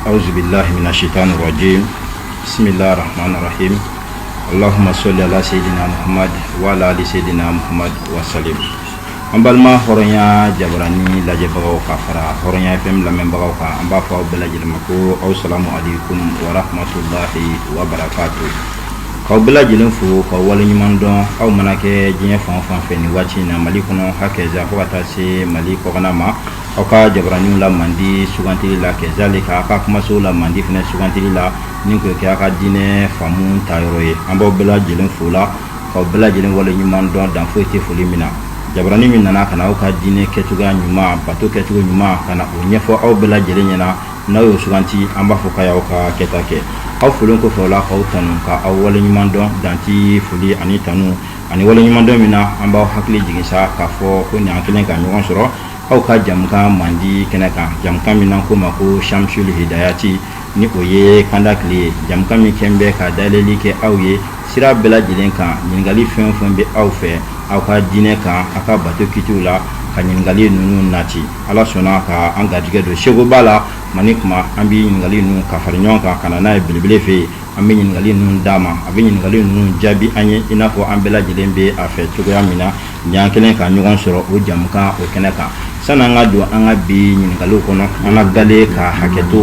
awzubilahi mina sitani rajim bisimila rahman rahim alahuma sɔli ala seydina muhammad wa ala ali seydina muhammad wa salim an balima hɔrɔnya jabarani lajɛbagaw ka fara hɔrɔnya fm lamɛnbagaw kan an b'a fɔ aw bɛɛ lajɛlen ma ko aw salamu aleykum wa rahmatulahi wa barakatu k'aw bɛɛ lajɛlen fo k'aw waleɲuman dɔn aw mana kɛ diɲɛ fan o fan fɛ nin waati in na mali kɔnɔ hakɛza fo ka taa se mali kɔkana ma aw ka jabaraniw la mandi sugantili la kɛzalika a ka kumaso la mandi fɛnɛ sugantili la ni k'o kɛ a ka diinɛ faamu ta yɔrɔ ye an b'aw bɛɛ lajɛlen fo o la ka aw bɛɛ lajɛlen wale ɲuman dɔn dan foyi tɛ foli min na jabarani min nana ka aw ka diinɛ kɛ cogo ɲuman bato kɛ cogo ɲuman ka na o ɲɛfɔ aw bɛɛ lajɛlen ɲɛna n'aw y'o suganti an b'a fɔ k'aw y'aw ka kɛta kɛ aw folen kɔfɛ o la k'aw tanu ka aw wale ɲuman dɔn dan tɛ foli ani tanu ani wale ɲumandɔn min na an b'aw hakili jigin sa k'a fɔ ko ni an kɛlen ka ɲɔgɔn sɔrɔ aw ka jamukan mandi kɛnɛ kan jamukan min na ko ma ko shamsul hidayati ni o ye kanda tile ye jamukan min kɛlen bɛ ka dayɛlɛli kɛ aw ye sira bɛɛ lajɛlen kan ɲininkali fɛn o fɛn bɛ aw fɛ aw ka diinɛ kan aw ka bato kitiw la ka ɲininkali ninnu nati ala sɔnna ka an garijɛgɛ don sekoba la mani kuma an bɛ ɲininkali ninnu ka fara ɲɔgɔn kan ka na n'a ye belebele fɛ yen an bɛ ɲininkali ninnu d'a ma a bɛ ɲininkali ninnu jaabi an ye i n'a fɔ an bɛɛ lajɛlen bɛ a fɛ cogoya min na ni an kɛlen ka ɲɔgɔn sɔrɔ o jamukan o kɛnɛ kan sani an ka don an ka bi ɲininkaliw kɔnɔ an ka galen ka hakɛto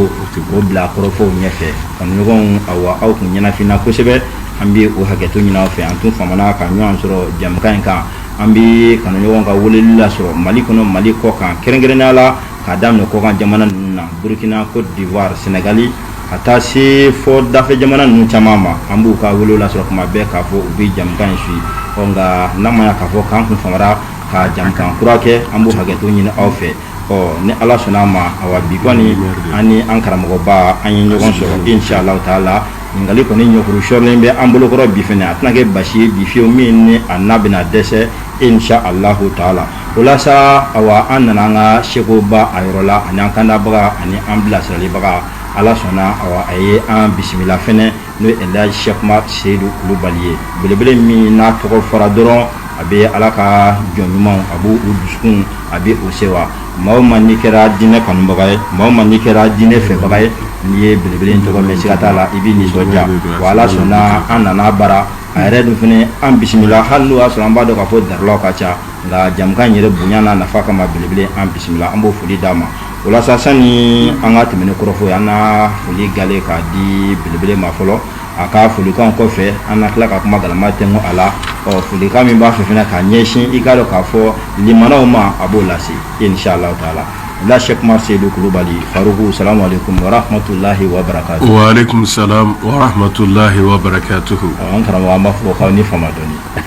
o bila kɔrɔfɔw ɲɛfɛ kanuɲɔgɔnw awa aw tun ɲɛnafinna kosɛbɛ an bɛ o hakɛto ɲini aw fɛ an tun famana ka ɲɔgɔn sɔrɔ jamukan in kan an bɛ kanuɲɔgɔnw ka weleli lasɔrɔ mali kɔnɔ mali kɔkan kɛrɛnkɛrɛnnenya la k'a daminɛ kɔkan jamana ninnu na burukina kɔdiwari sɛnɛgali ka taa se fo dafɛ jamana ninnu caman ma an b'u ka weleli lasɔrɔ tuma bɛɛ k'a fɔ u bɛ jamukan in suivi ɔ nka n'a ma k'a fɔ k'an kun famara ka jamukan kura kɛ an b'u hakɛto ɲini aw fɛ ɔ ni ala sɔnna a ma awa bi kɔni an ni an karamɔgɔba an ye ɲɔgɔn sɔrɔ inshallah taala ɲininkali kɔni ɲɔkuru sɔrɔlen bɛ an bolokɔrɔ bi fɛnɛ a tɛna kɛ basi ye bi fiyewu min ni an n'a bɛna dɛsɛ inshallah taala o la sa awa an nana an ka sekoba a yɔrɔ la ani an kandabaga ani an bilasiralibaga ala sɔnna awa a ye an bisimila fɛnɛ n'o ye elhaji sɛku ma seyidu kulubali ye belebele min n'a tɔgɔ fɔra dɔrɔn a bɛ ala ka jɔn ɲumanw a b'u u dusukun a bɛ o sewa maa o maa n'i kɛra diinɛ kanubaga ye maa o maa n'i kɛra diinɛ fɛbaga ye n'i ye belebele in tɔgɔ mɛn siga t'a la i b'i nisɔndiya wa ala sɔnna an nana a bara a yɛrɛ dun fɛnɛ an bisimila hali n'o y'a sɔrɔ an b'a dɔn k'a fɔ darilaw ka ca nka jamukan yɛrɛ bonya n'a nafa kama belebele an bisimila an b'o foli d'a ma o la sa sani an ka tɛmɛ ni kɔrɔfɔ ye an na foli gale k'a di belebele ma fɔlɔ a ka folikan kɔfɛ an na tila ka kuma galama tɛnko a la ɔ folikan min b'a fɛ fana k'a ɲɛsin i k'a dɔn k'a fɔ limanaw ma a b'o lase inshallah taala la Cheikh Umar Seydou Kulubali Faruku salamu alaikum wa rahmatulahi wa barakatuhu. Wa alaikum salam wa rahmatulahi wa barakatuhu. An karamɔgɔ an b'a fɔ k'aw ni fama dɔɔni. an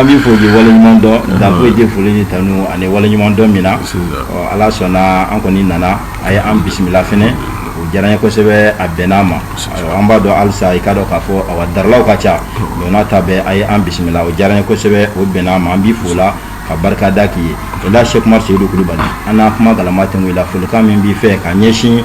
bɛ foli waleɲuman dɔn da k'aw ye foli ni tanu ani waleɲuman dɔn min na ala sɔnna an kɔni nana a ye an bisimila fana o diyara an ye kosɛbɛ a bɛnna an ma an b'a dɔn alisa i k'a dɔn k'a fɔ a daralaw ka ca don n'a ta bɛ a ye an bisimila o diyara an ye kosɛbɛ o bɛnna an ma an b'i fo o la ka barika da k'i ye o la Cheikh Umar seyidu kulubali an na kuma galama tɛ i la folikan min b'i fɛ ka ɲɛsin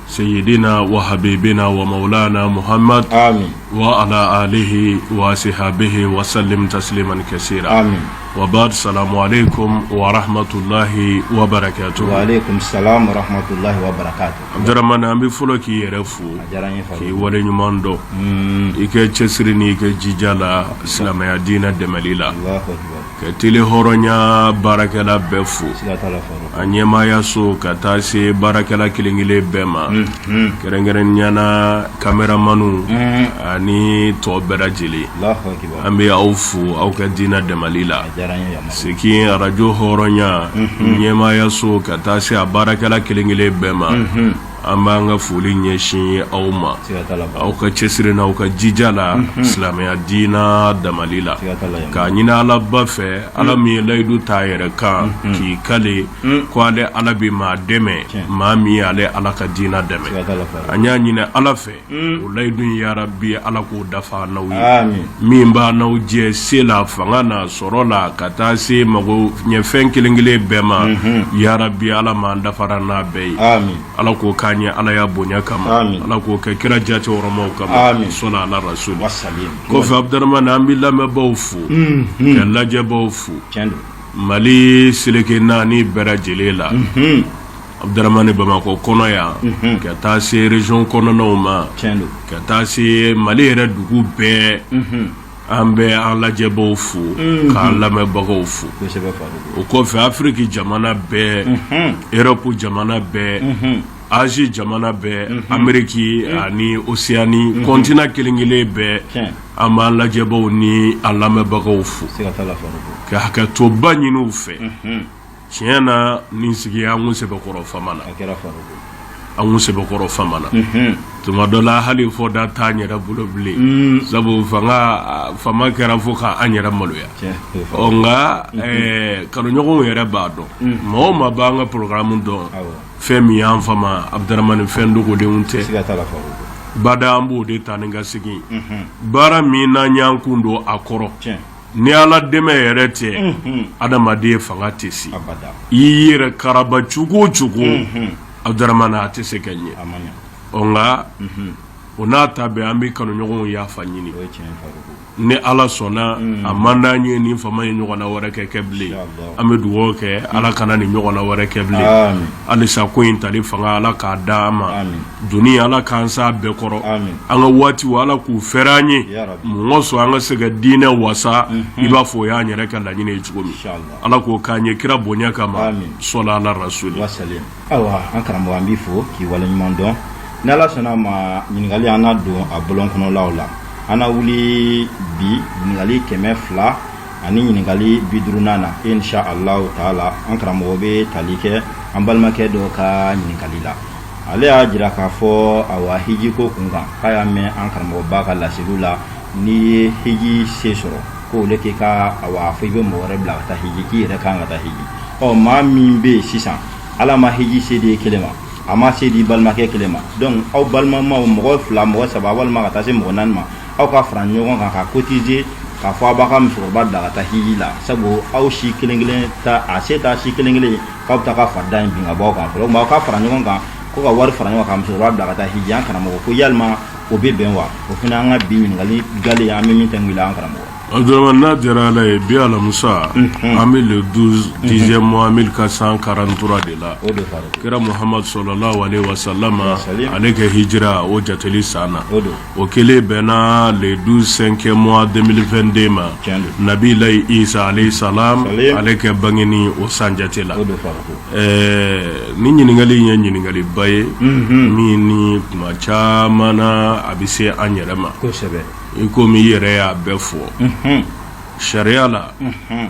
seyiden na wa ha bɛ na wa na muhama wa ala aleyi wa ha bɛ wa salilimaniin kɛ se wabadu sa ale ko waratulayi wato an bɛ fɔlɔ k'i yɛrɛ fo k'i wale ɲuman dɔn i kɛ cɛsiri ni i kɛ jija la silamɛya diinɛ dɛmɛli la ka tele hɔrɔnya baarakɛla bɛɛ fo a ɲɛmaaya so ka taa se baarakɛla kelenkelen bɛɛ ma kɛrɛnkɛrɛnya na kameramanw ani tɔ bɛɛ lajɛlen an bɛ aw fo aw ka diinɛ damali la segin arajo hɔrɔnya ɲɛmaaya so ka taa se a baarakɛla kelenkelen bɛɛ ma an b'an ka foli ɲɛsin aw ma aw ka cɛsiri na aw ka jija la mhm. silamɛya diina damali la k'a ɲini ala ba fɛ mhm. ala min ye layidu ta a yɛrɛ kan mhm. k'i kali ko ale ala bɛ maa dɛmɛ maa min ye ale ala ka diina dɛmɛ an y'a ɲini ala fɛ o layidu yarabi ala k'o dafa n'aw ye min b'a n'aw jɛ se la fanga na sɔrɔ la ka taa se mago ɲɛfɛn kelen kelen bɛɛ ma yarabi ala ma dafara n'a bɛɛ ye ala k'o k'an ye alaya bonya kama ala k'o kɛ kira jati hɔrɔma kama solu ala rasulu kɔfɛ Abdramani an bɛ lamɛnbaaw fo ka lajɛbaw fo mali seleke naani bɛɛ lajɛlen la Abdramani bamakɔ kɔnɔ yan ka taa se resiɔn kɔnɔnaw ma ka taa se mali yɛrɛ dugu bɛɛ an bɛ an lajɛbagaw fo k'an lamɛnbagaw fo o kɔfɛ afiriki jamana bɛɛ erɔpu jamana bɛɛ azi jamana bɛɛ ameriki ani oseyani kɔntina kelenkelen bɛɛ an b'an lajɛbagaw ni an lamɛnbagaw fo ka hakɛtoba ɲini u fɛ tiɲɛ na nin sigi an kun sɛbɛkɔrɔ famana an kun sɛbɛkɔrɔ famana tuma dɔ la hali fɔ da t'an yɛrɛ bolo bilen sabu fama kɛra fo k'an yɛrɛ maloya ɔ nka kanuɲɔgɔnw yɛrɛ b'a dɔn maa o maa b'an ka porogaramu dɔn fɛn min y'an fama abudaramani fɛn dogodenw tɛ bada an b'o de ta ni ka segin baara min n'an y'an kun don a kɔrɔ ni ala dɛmɛ yɛrɛ tɛ adamaden fanga tɛ se i yɛrɛ karaba cogo o cogo abudaramana a tɛ se ka ɲɛ ɔ nka o n'a ta bɛɛ an bɛ kanuɲɔgɔnw yafa ɲini ni ala sɔnna a man di an ye nin fama in ɲɔgɔnna wɛrɛ ka kɛ bilen an bɛ dugawu kɛ ala kana nin ɲɔgɔnna wɛrɛ kɛ bilen halisa ko in tali fanga ala k'a da an ma duniya ala k'an sɛbɛkɔrɔ an ka waati ala k'u fɛrɛ an ye mɔgɔ sɔn an ka se ka diinɛ wasa i b'a fɔ o y'an yɛrɛ ka laɲini ye cogo min ala k'o k'an ye kira bonya kama sɔla ala rasuli ayiwa an karamɔgɔ an b'i fo k'i waleɲuman dɔn ni ala sɔnna a ma ɲininkali an na don a bɔlɔn kɔnɔlaw la an na wuli bi ɲininkali kɛmɛ fila ani ɲininkali bi duurunan na insha allahu taala an karamɔgɔ bɛ tali kɛ an balimakɛ dɔ ka ɲininkali la ale y'a jira k'a fɔ awa hijiko kun kan k'a y'a mɛn an karamɔgɔba ka laseliw la n'i ye hiji se sɔrɔ ko ne k'i ka awa fɔ i bɛ mɔgɔ wɛrɛ bila ka taa hiji k'i yɛrɛ kan ka taa hiji ɔ maa min bɛ yen sisan ala ma hiji se di kelen ma a ma se di balimakɛ kelen ma donc aw balimamaw mɔgɔ fila mɔgɔ saba walima ka taa se mɔgɔ naani ma aw ka fara ɲɔgɔn kan ka cotiser k'a fɔ aw b'aw ka musokɔrɔba bila ka taa hiji la sabu aw si kelen kelen ta a se t'aw si kelen kelen k'aw bɛ taa ka farida in bin ka bɔ aw kan fo aw ka fara ɲɔgɔn kan ko ka wari fara ɲɔgɔn kan musokɔrɔba bila ka taa hiji an karamɔgɔ ko yalima o bɛ bɛn wa o fana an ka bi ɲininkali gale an bɛ min ta wuli an karamɔgɔ Abdourahmane n'a diyara ala ye bi alamusa an bɛ le 12 dixième mois 1443 de la kira Muhamadu sɔlɔlahu alehi wasalama ale ka hijira o jateli san na O kɛlen bɛn na le 12 cinquième mois 2022 ma, tiɲɛ don, Nabilayi Isa alayihi salaam ale ka bangeni o san jate la, o de fara ko kan, ɛɛ ni ɲininkali in ye ɲininkaliba ye, unhun, min ni tuma caman na a bɛ se an yɛrɛ ma, kosɛbɛ, i komi i yɛrɛ y'a bɛɛ fɔ, unhun, sariya la, unhun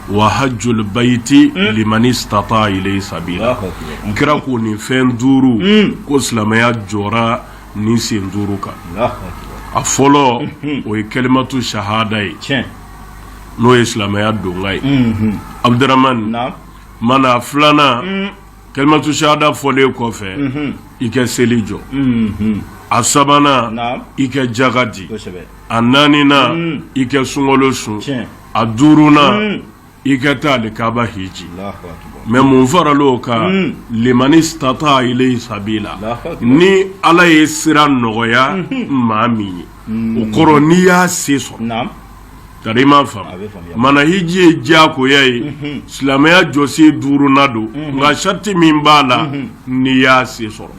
wa hajjul bayti hmm. liman istata ilayhi sabila kira ko nin fɛn duuru hmm. ko silamɛya jɔra nin sen duuru kan a fɔlɔ hmm. o ye kalimatu shahada ye n'o ye silamɛya donkan ye abdurahmana a filanan kalimatu shahada fɔlen kɔfɛ i ka seli jɔ a sabanan i ka jaka di a naaninan i ka sunkalo sun a duurunan hmm. i ka taa alikaba hiji mais mun faral'o kan hmm. limanistata ilayhi sabila ni ala ye sira nɔgɔya hmm. maa min ye o kɔrɔ n'i y'a se sɔrɔ tari i m'a faamu mana hiji ye diyagoya ye silamɛya jɔsen duurunan don nka sarati min b'a la n'i y'a se sɔrɔ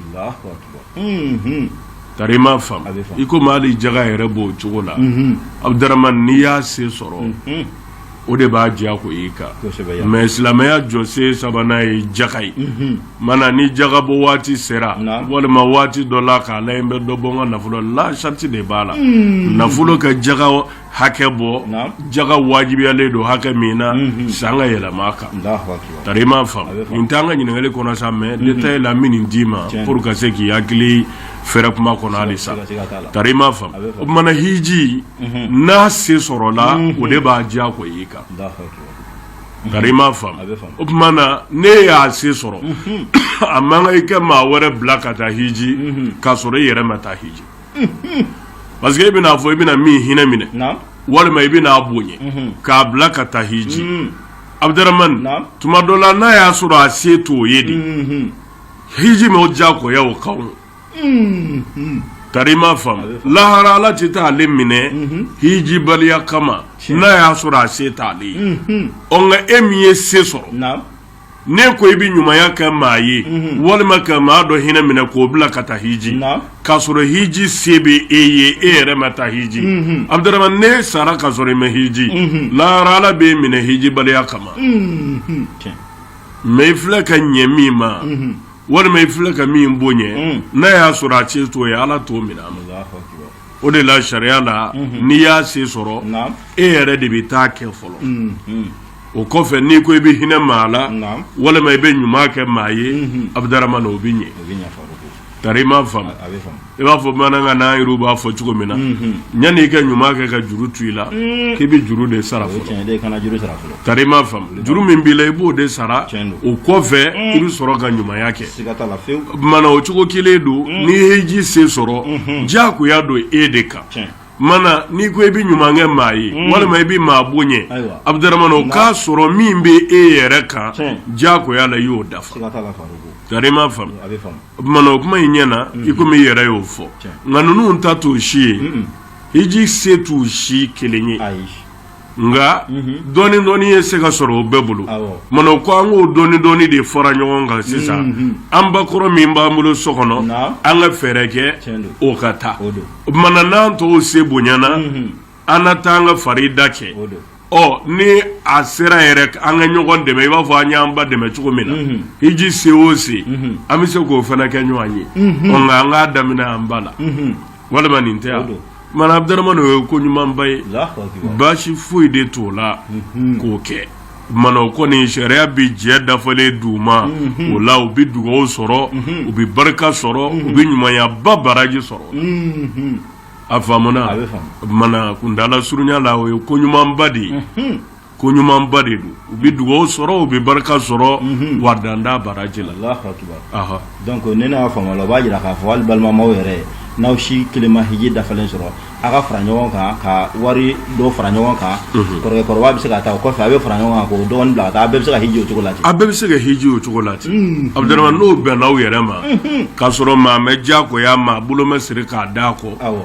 tari i m'a faamu i komi hali jaga yɛrɛ b'o cogo la abudaramani n'i y'a se sɔrɔ o de b'a diyagoya i kan mais silamɛya jɔsen sabanan ye jaga ye mana ni jaga bɔ waati sera walima waati dɔ la k'ala ye n bɛ dɔ bɔ n ka nafolo la sarati de b'a la nafolo ka jaga hakɛ bɔ jaga wajibiyalen don hakɛ min na mhm. san ka yɛlɛma a kan tari i m'a faamu nin t'an ka ɲininkali kɔnɔ sa mais mhm. détail la n bɛ nin d'i ma pour ka se k'i hakili fɛrɛ kuma kɔnɔ hali sa tari i m'a faamu o tuma na hiji mhm. n'a se sɔrɔla o de b'a diyagoya i kan tari i m'a faamu o tuma na n'e y'a se sɔrɔ a man kan i ka maa wɛrɛ bila ka taa hiji k'a sɔrɔ i yɛrɛ ma taa hiji parce que e bɛn'a fɔ i bɛna min hinɛ minɛ walima i bɛn'a bonya mhm. k'a bila ka taa hiji mhm. abudaramani tuma dɔ la n'a y'a sɔrɔ a se t'o ye de mhm. hiji ma o diyagoya o kan tari i m'a faamu lahara ala tɛ taa ale minɛ hiji baliya kama n'a y'a sɔrɔ a se t'ale ye ɔ nka e min ye se sɔrɔ n'e ko i bɛ ɲumanya kɛ maa ye walima ka maa dɔ hinɛ minɛ k'o bila ka taa hiji k'a sɔrɔ hiji se bɛ e ye e yɛrɛ ma taa hiji abudaramani n'e sara k'a sɔrɔ i ma hiji lahara ala b'e minɛ hiji baliya kama mais i filɛ ka ɲɛ min ma walima i filɛ ka min bonya n'a y'a sɔrɔ a se t'o ye ala t'o minɛ a ma o de la sariya la n'i y'a se sɔrɔ e yɛrɛ de b'i ta kɛ fɔlɔ o kɔfɛ n'i ko i bɛ hinɛ maa la walima i bɛ ɲuman kɛ maa ye abudaramani o bɛ ɲɛ tari i m'a faamu i b'a fɔ bamanankan na u b'a fɔ cogo min na yanni i ka ɲuman kɛ ka juru to i la k'i bɛ juru de sara fɔlɔ tari i m'a faamu juru min b'i la i b'o de sara o kɔfɛ i bɛ sɔrɔ ka ɲumanya kɛ mana o cogo kelen don n'i ye hiji se sɔrɔ diyagoya don e de kan mana n'i ko i bɛ ɲuman kɛ maa ye mm. walima i bɛ maa bonya abudaramani o k'a sɔrɔ min bɛ e yɛrɛ kan diyagoya la i y'o dafa tari i m'a faamu mana o kuma in ɲɛna mm. i komi i yɛrɛ y'o fɔ nka ninnu ta t'o si ye hiji se t'u si kelen ye nka dɔɔni dɔɔni ye se ka sɔrɔ o bɛɛ bolo mana o ko an k'o dɔɔni dɔɔni de fara ɲɔgɔn kan sisan an bakɔrɔ min b'an bolo so kɔnɔ an ka fɛɛrɛ kɛ o ka taa mana n'an tɔw se bonyana an na taa an ka farida kɛ ɔ ni a sera yɛrɛ an ka ɲɔgɔn dɛmɛ i b'a fɔ an y'an ba dɛmɛ cogo min na hiji se o se an bɛ se k'o fana kɛ ɲɔgɔn ye nka an k'a daminɛ an ba la walima nin tɛ yan mana Abdurahman o ye ko ɲumanba ye baasi foyi de t'o la mhm. k'o kɛ mana o kɔni sariya bɛ jɛ dafalen d'u ma mhm. o la u bɛ dugawu sɔrɔ mhm. u bɛ barika sɔrɔ u bɛ ɲumanyaba baraji sɔrɔ a faamuna mana kundala surunya la o ye ko ɲumanba de ye ko ɲumanba de don u bɛ dugawu sɔrɔ u bɛ barika sɔrɔ mhm. wa dan t'a baraji la donc ne y'a faamuya la o b'a jira k'a fɔ hali balimamaw yɛrɛ ye n'aw si kelen ma hiji dafalen sɔrɔ a ka fara ɲɔgɔn kan ka wari dɔ fara ɲɔgɔn kan mhm. kɔrɔkɛkɔrɔba bɛ se ka taa o kɔfɛ a bɛ fara ɲɔgɔn kan k'o dɔgɔnin bila a bɛɛ bɛ se ka hiji o cogo la a bɛɛ bɛ se ka hiji o cogo la ten Abdurahman n'o bɛnna aw yɛrɛ ma k'a sɔrɔ maa mɛ diyagoya maa bolo mɛ siri k'a da kɔ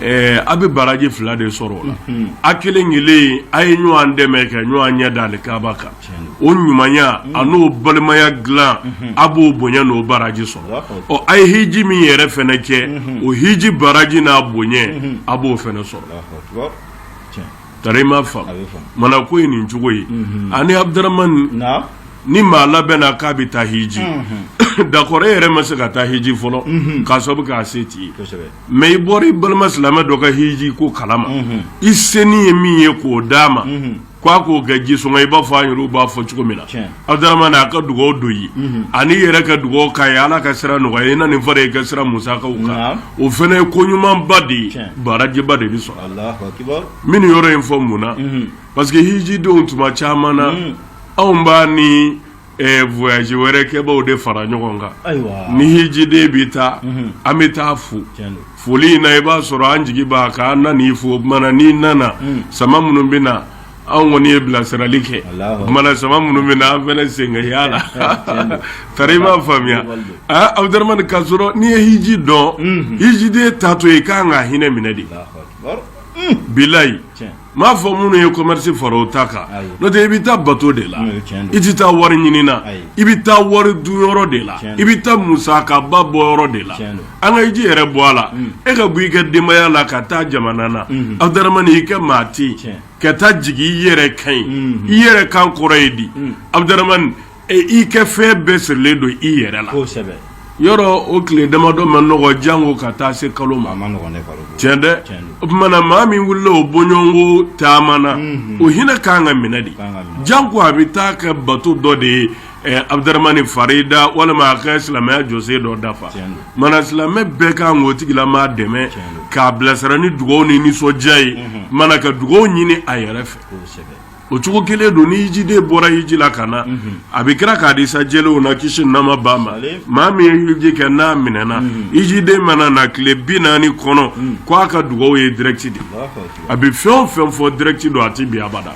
Ɛɛ a bɛ baraji fila de sɔrɔ o la a kelen kelen a ye ɲɔgɔn dɛmɛ ka ɲɔgɔn ɲɛ da alikaaba kan o ɲumanya a n'o balimaya dilan a b'o bonya n'o baraji sɔrɔ ɔ a ye hiji min yɛrɛ fɛnɛ kɛ o hiji baraji n'a bonya a b'o fɛnɛ sɔrɔ Tari i m'a faamu mana ko ye nin cogo ye ani Abdurahman ni maa labɛnna k'a bɛ taa hiji d'accord e yɛrɛ ma se ka taa hiji fɔlɔ k'a sababu k'a se t'i ye mais i bɔra i balima silamɛ dɔ ka hiji ko kalama i senin ye min ye k'o d'a ma k'a k'o kɛ jisɔngɔ i b'a fɔ an yɛrɛw b'a fɔ cogo min na A ka dugawu don i ye an'i yɛrɛ ka dugawu k'a ye ala ka sira nɔgɔya ye na nin fara i ka sira musaka kan o fana ye ko ɲumanba de ye barajiba de bɛ sɔrɔ n bɛ yɔrɔ in fɔ mun na parce que hijidenw tuma caman na anw b'a ni voyage wɛrɛ kɛbaw de fara ɲɔgɔn kan ni hijiden bɛ taa an bɛ taa fo foli in na i b'a sɔrɔ an jigi b'a kan an nan'i fo n'i nana sama minnu bɛ na anw kɔni ye bilasirali kɛ mana sama minnu bɛ na an fana sen ka y'a la tari i m'a faamuya aa Abdurahman k'a sɔrɔ n'i ye hiji dɔn hijiden taatɔ i kan ka hinɛ minɛ de bilayi m'a fɔ minnu ye commerce fara o ta kan n'o tɛ i bɛ taa bato de la i tɛ taa wari ɲini na i bɛ taa wari dun yɔrɔ de la i bɛ taa musakaba bɔ yɔrɔ de la an ka hiji yɛrɛ bɔ a la e ka bɔ i ka denbaya la ka taa jamana na abuduramani i ka maa tɛ ka taa jigin i yɛrɛ kan yen i yɛrɛ kan kɔrɔ ye di abuduramani i ka fɛn bɛɛ sirilen don i yɛrɛ la yɔrɔ o tile damadɔ ma nɔgɔ janko ka taa se kalo ma tiɲɛ dɛ o tumana maa min wulila o bɔɲɔgɔnko taama na o hinɛ kan k'an minɛ de janko a bɛ taa kɛ bato dɔ de ye Abuduramani farida walima a ka silamɛya jɔsen dɔ dafa mana silamɛ bɛɛ kan k'o tigilamaa dɛmɛ k'a bilasira ni dugaw ni nisɔndiya ye mana ka dugaw ɲini a yɛrɛ fɛ o cogo kelen don ni hijiden bɔra hiji la ka na a bɛ kira ka hadisa jɛlenw na kisi nɛɛma b'a ma maa min ye hiji kɛ n'a minɛna hijiden mana na tile bi naani kɔnɔ ko a ka dugaw ye direct de a bɛ fɛn o fɛn fɔ direct don a tɛ bin abada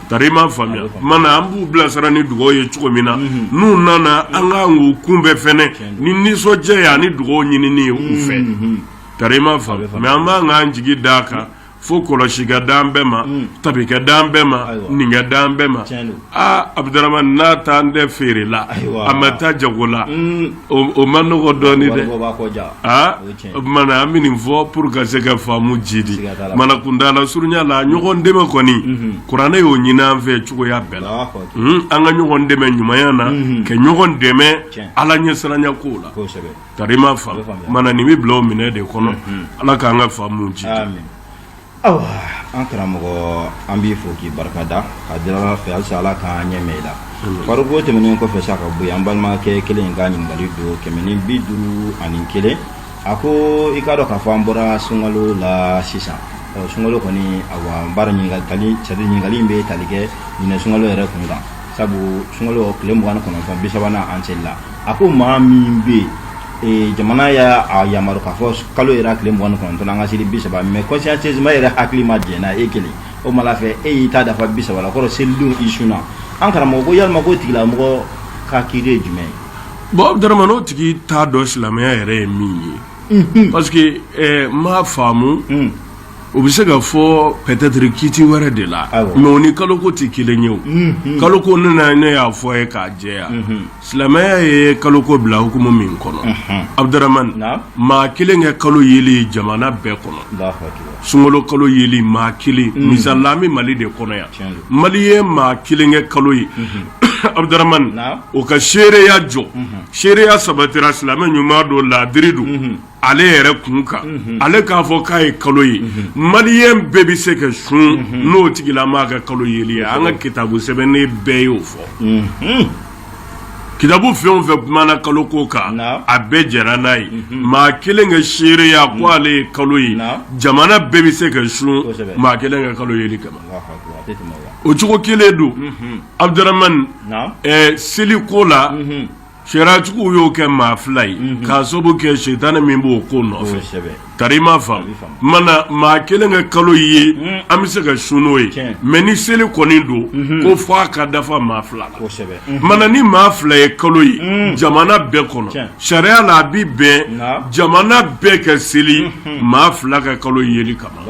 tari i m'a faamuya mana an b'u bilasira ni dugaw ye cogo min na n'u nana an kan k'u kunbɛn fɛnɛ ni nisɔndiya ye ani dugaw ɲinini ye u fɛ tari i m'a faamuya mais an man kan k'an jigi d'a kan fo kɔlɔsi ka d'an bɛɛ ma tabi ka d'an bɛɛ ma nin ka d'an bɛɛ ma Aa abuduramani n'a taalen tɛ feere la a ma taa jago la o man nɔgɔ dɔɔnin dɛ aa o tumana an bɛ nin fɔ pour ka se ka faamu jiidi mana kuntaala surunya la ɲɔgɔn dɛmɛ kɔni kuranɛ y'o ɲini an fɛ cogoya bɛɛ la an ka ɲɔgɔn dɛmɛ ɲumanya na ka ɲɔgɔn dɛmɛ ala ɲɛsiranya ko la tari i m'a faamu mana nin bɛ bila o minɛn de kɔnɔ ala k'an ka faamu jiidi Awa an karamɔgɔ an b'i fo k'i barika da k'a deli ala fɛ halisa ala k'an ɲɛ mɛɛn i la fariko tɛmɛnen kɔfɛ sa ka bɔ yen an balimakɛ kelen in ka ɲininkali don kɛmɛ ni bi duuru ani kelen a ko i k'a dɔn k'a fɔ an bɔra sunkalo la sisan sunkalo kɔni awa bari ɲininkali bɛ tali kɛ ɲinɛ sunkalo yɛrɛ kun kan sabu sunkalo tile mugan kɔnɔntɔn bi sabanan an selila a ko maa min bɛ yen Eh, jamana y'a yamaru k'a fɔ kalo yera tile mugan ni kɔnɔntɔn an ka seli bi saba mais consciencieusement yɛrɛ hakili ma jɛna e kelen o ma la fɛ e y'i ta dafa bi saba la kɔrɔ selidon i sunna an karamɔgɔ ko yalima ko tigilamɔgɔ ka kiiri ye jumɛn ye bon abuduramani n'o tigi t'a dɔn silamɛya yɛrɛ ye min ye parce que eh, n m'a faamu hmm. o bɛ se ka fɔ peut-être kiti wɛrɛ de la mais o ni kalo ko tɛ kelen ye o kalo ko ne na ne y'a fɔ ye k'a jɛya silamɛya ye kalo ko bila hukumu min kɔnɔ abuduramani maa kelen ka kalo yeli jamana bɛɛ kɔnɔ sunkalo kalo yeli maa kelen misali an bɛ mali de kɔnɔ yan mali ye maa kelen ka kalo ye abuduramani o ka seereya jɔ seereya sabatira silamɛ ɲuman don laadiri don ale yɛrɛ kun kan ale k'a fɔ k'a ye kalo ye maliyɛn bɛɛ bɛ se ka sun n'o tigilamaa ka kalo yeli ye an ka kitabu sɛbɛnnen bɛɛ y'o fɔ kitabu fɛn o fɛn kumana kalo ko kan a bɛɛ jɛra n'a ye maa kelen ka seereya ko ale ye kalo ye jamana bɛɛ bɛ se ka sun maa kelen ka kalo yeli kama o cogo kelen don abuduramani seli ko la Sariyatigiw y'o kɛ maa fila ye k'a sababu kɛ sitanɛ min b'o ko nɔfɛ tari ma faamu mana maa kelen ka kalo ye an bɛ se ka sun n'o ye mɛ ni seli kɔni don ko fɔ a ka dafa maa fila la mana ni maa fila ye kalo ye jamana bɛɛ kɔnɔ sariya la a bɛ bɛn jamana bɛɛ ka seli maa fila ka kalo yeli kama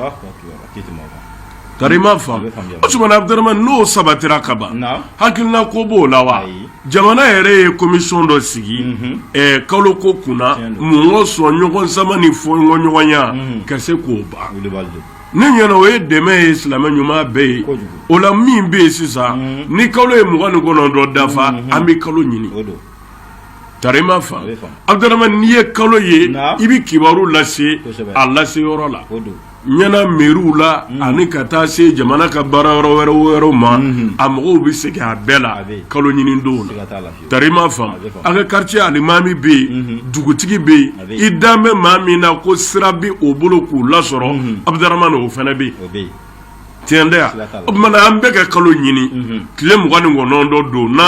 Tari ma faamu o tumana abuduramani n'o sabatira ka ban hakilina ko b'o la wa jamana yɛrɛ ye komisɔn dɔ sigi kalo ko kunna mun kɔsɔn ɲɔgɔn sama ni fɔɲɔgɔnkɔya ka se k'o ban ne ɲɛna o ye dɛmɛ ye silamɛ ɲuman bɛɛ ye o la min bɛ yen sisan ni kalo ye mugan ni kɔnɔntɔn dafa an bɛ kalo ɲini tari ma faamu abuduramani n'i ye kalo ye i bɛ kibaru lase a lase yɔrɔ la ɲɛna mɛriw la ani ka taa se jamana ka baara yɔrɔ wɛrɛ wɛrɛ ma a mɔgɔw bɛ sigi a bɛɛ la kalo ɲini don na tari ma faamu a ka kartiye alimami bɛ yen dugutigi bɛ yen i dan bɛ maa min na ko sira bɛ o bolo k'u lasɔrɔ abuduramani o fana bɛ yen tiɲɛ tɛ yan o tumana an bɛɛ ka kalo ɲini tile mugan ni kɔnɔntɔn don n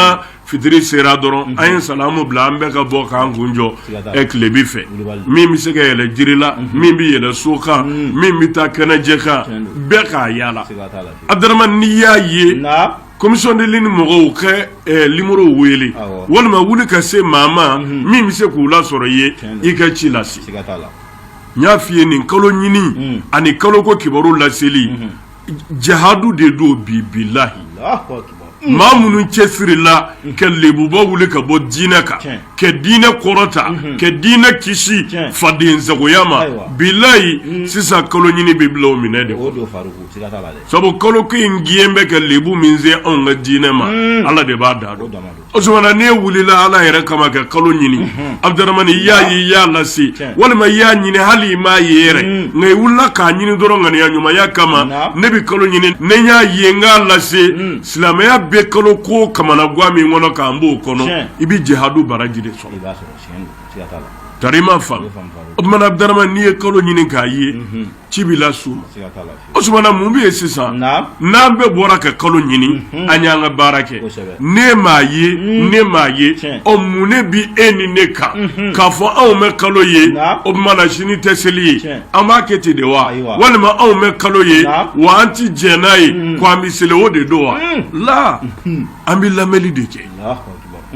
fitiri sera dɔrɔn an ye salamu bila an bɛ ka bɔ k'an kun jɔ tilebi fɛ min bɛ se ka yɛlɛ jiri la min bɛ yɛlɛ so kan min bɛ taa kɛnɛjɛ kan bɛɛ k'a yaala abuduramani n'i y'a ye komisɔn de lune mɔgɔw ka nimɔrɔ wele walima wuli ka se maa ma min bɛ se k'u lasɔrɔ i ye i ka ci lase n y'a f'i ye nin kalo ɲini ani kaloko kibaru laseli jihadu de don bi bilahi maa minnu cɛsirila ka lebuba wuli ka bɔ diinɛ kan ka diinɛ kɔrɔta ka diinɛ kisi faden sagoya ma bilayi sisan kalo ɲini bɛ bila o minɛ de sabu kalo ko in diɲɛ bɛ ka lebu min se anw ka diinɛ ma ala de b'a dan dɔn O tumana n'e wulila ala yɛrɛ kama ka kalo ɲini abuduramani i y'a ye i y'a lase walima i y'a ɲini hali i m'a ye yɛrɛ nka i wulila k'a ɲini dɔrɔn ŋaniya ɲumanya kama ne bɛ kalo ɲini ne y'a ye n k'a lase silamɛya bɛ kalo ko kamanagan min kɔnɔ k'an b'o kɔnɔ i bɛ jihadu baraji de sɔrɔ tari ma faamu o tumana abuduramani n'i ye kalo ɲini k'a ye ci b'i la su ma o tuma na mun bɛ yen sisan n'an bɛɛ bɔra ka kalo ɲini mhm. an y'an ka baara kɛ ne m'a ye mhm. ne m'a ye ɔ mun ne bi e ni ne kan mhm. k'a fɔ anw ma kalo ye o tuma na sini tɛ seli ye an b'a kɛ ten de wa walima anw ma kalo ye wa an ti jɛn n'a ye ko an bɛ seli o de don wala an bɛ lamɛnni de kɛ.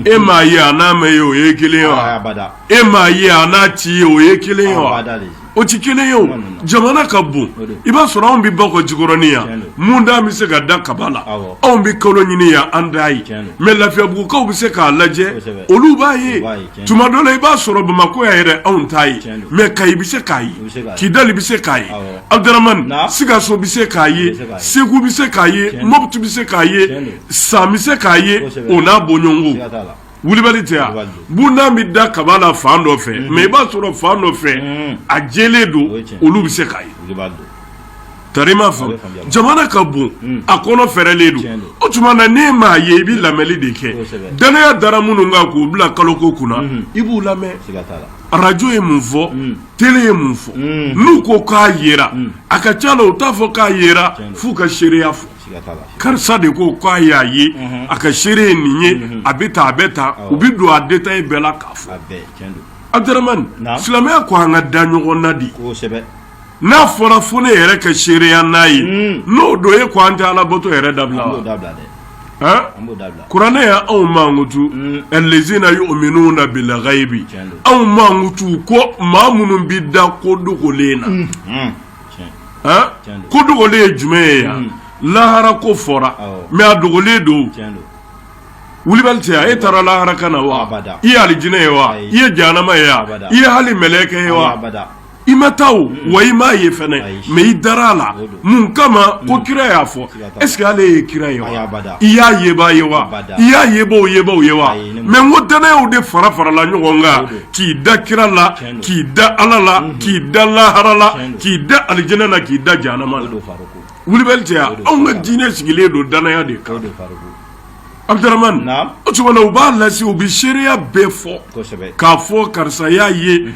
e m'a ye a n'a ma ye o ye kelen ye wa e m'a ye a n'a ti yen o ye kelen ye wa o tɛ kelen ye o jamana ka bon i b'a sɔrɔ anw bɛ bakɔjikɔrɔni yan mundan bɛ se ka da kaba la anw bɛ kalo ɲini yan an t'a ye mɛ lafiyabugukaw bɛ se k'a lajɛ olu b'a ye tuma dɔ la i b'a sɔrɔ bamakɔ yan yɛrɛ anw t'a ye mɛ kayi bɛ se k'a ye kidali bɛ se k'a ye abudramani sikaso bɛ se k'a ye segu bɛ se k'a ye mɔputu bɛ se k'a ye san bɛ se k'a ye o n'a bɔɲɔgɔnko Wulibali tɛ yan Wulibali don. bundan bɛ da kaba la fan dɔ fɛ mɛ i b'a sɔrɔ fan dɔ fɛ Mhm. a jɛlen don O ye tiɲɛ. olu bɛ se k'a ye Wulibali don. tari ma faamu bɛ faamuya. jamana ka bon a kɔnɔ fɛrɛlen don Tiɲɛ don. o tuma na n'e m'a ye i bɛ lamɛnni de kɛ Kosɛbɛ. danaya dara minnu kan k'u bila kalo ko kunna i b'u lamɛn Siga t'a la. arajo ye mun fɔ tele ye mun fɔ Mm. n'u ko k'a yera a ka ca la u t'a fɔ k'a yera Tiɲɛ don. f'u ka seereya fɔ karisa de ko k'a y'a ye a ka seere ye nin ye a bɛ taa a bɛ taa u bɛ don a détail bɛɛ la k'a fɔ abudramani silamɛya ko an ka da ɲɔgɔn na di n'a fɔra fo ne yɛrɛ ka seereya n'a ye n'o don e ko an tɛ alabato yɛrɛ dabila wa kuranɛ y'anw mankutu alazina yuminuna bili kayibi anw mankutu ko maa minnu bɛ da ko dogolen na ko dogolen ye jumɛn ye yan lahara ko fɔra mɛ a dogolen don wulibali tɛ yan e taara lahara ka na wa i ye alijinɛ ye wa i ye jahanama ye wa i ye hali mɛlɛkɛ ye wa i ma taa wa i m'a ye fana mɛ i dara a la mun kama ko kira y'a fɔ est ce que ale ye kira ye wa i y'a yebaa ye wa i y'a yebaaw yebaaw ye wa mɛ n ko danayaw de fara farala ɲɔgɔn kan k'i da kira la k'i da ala la mhm. k'i da lahara la k'i da alijinɛ la k'i da jahanama la wulibali tɛ yan anw ka diinɛ sigilen don danaya de kan Abudramani o tuma na u b'a lase u bɛ seereya bɛɛ fɔ k'a fɔ karisa y'a ye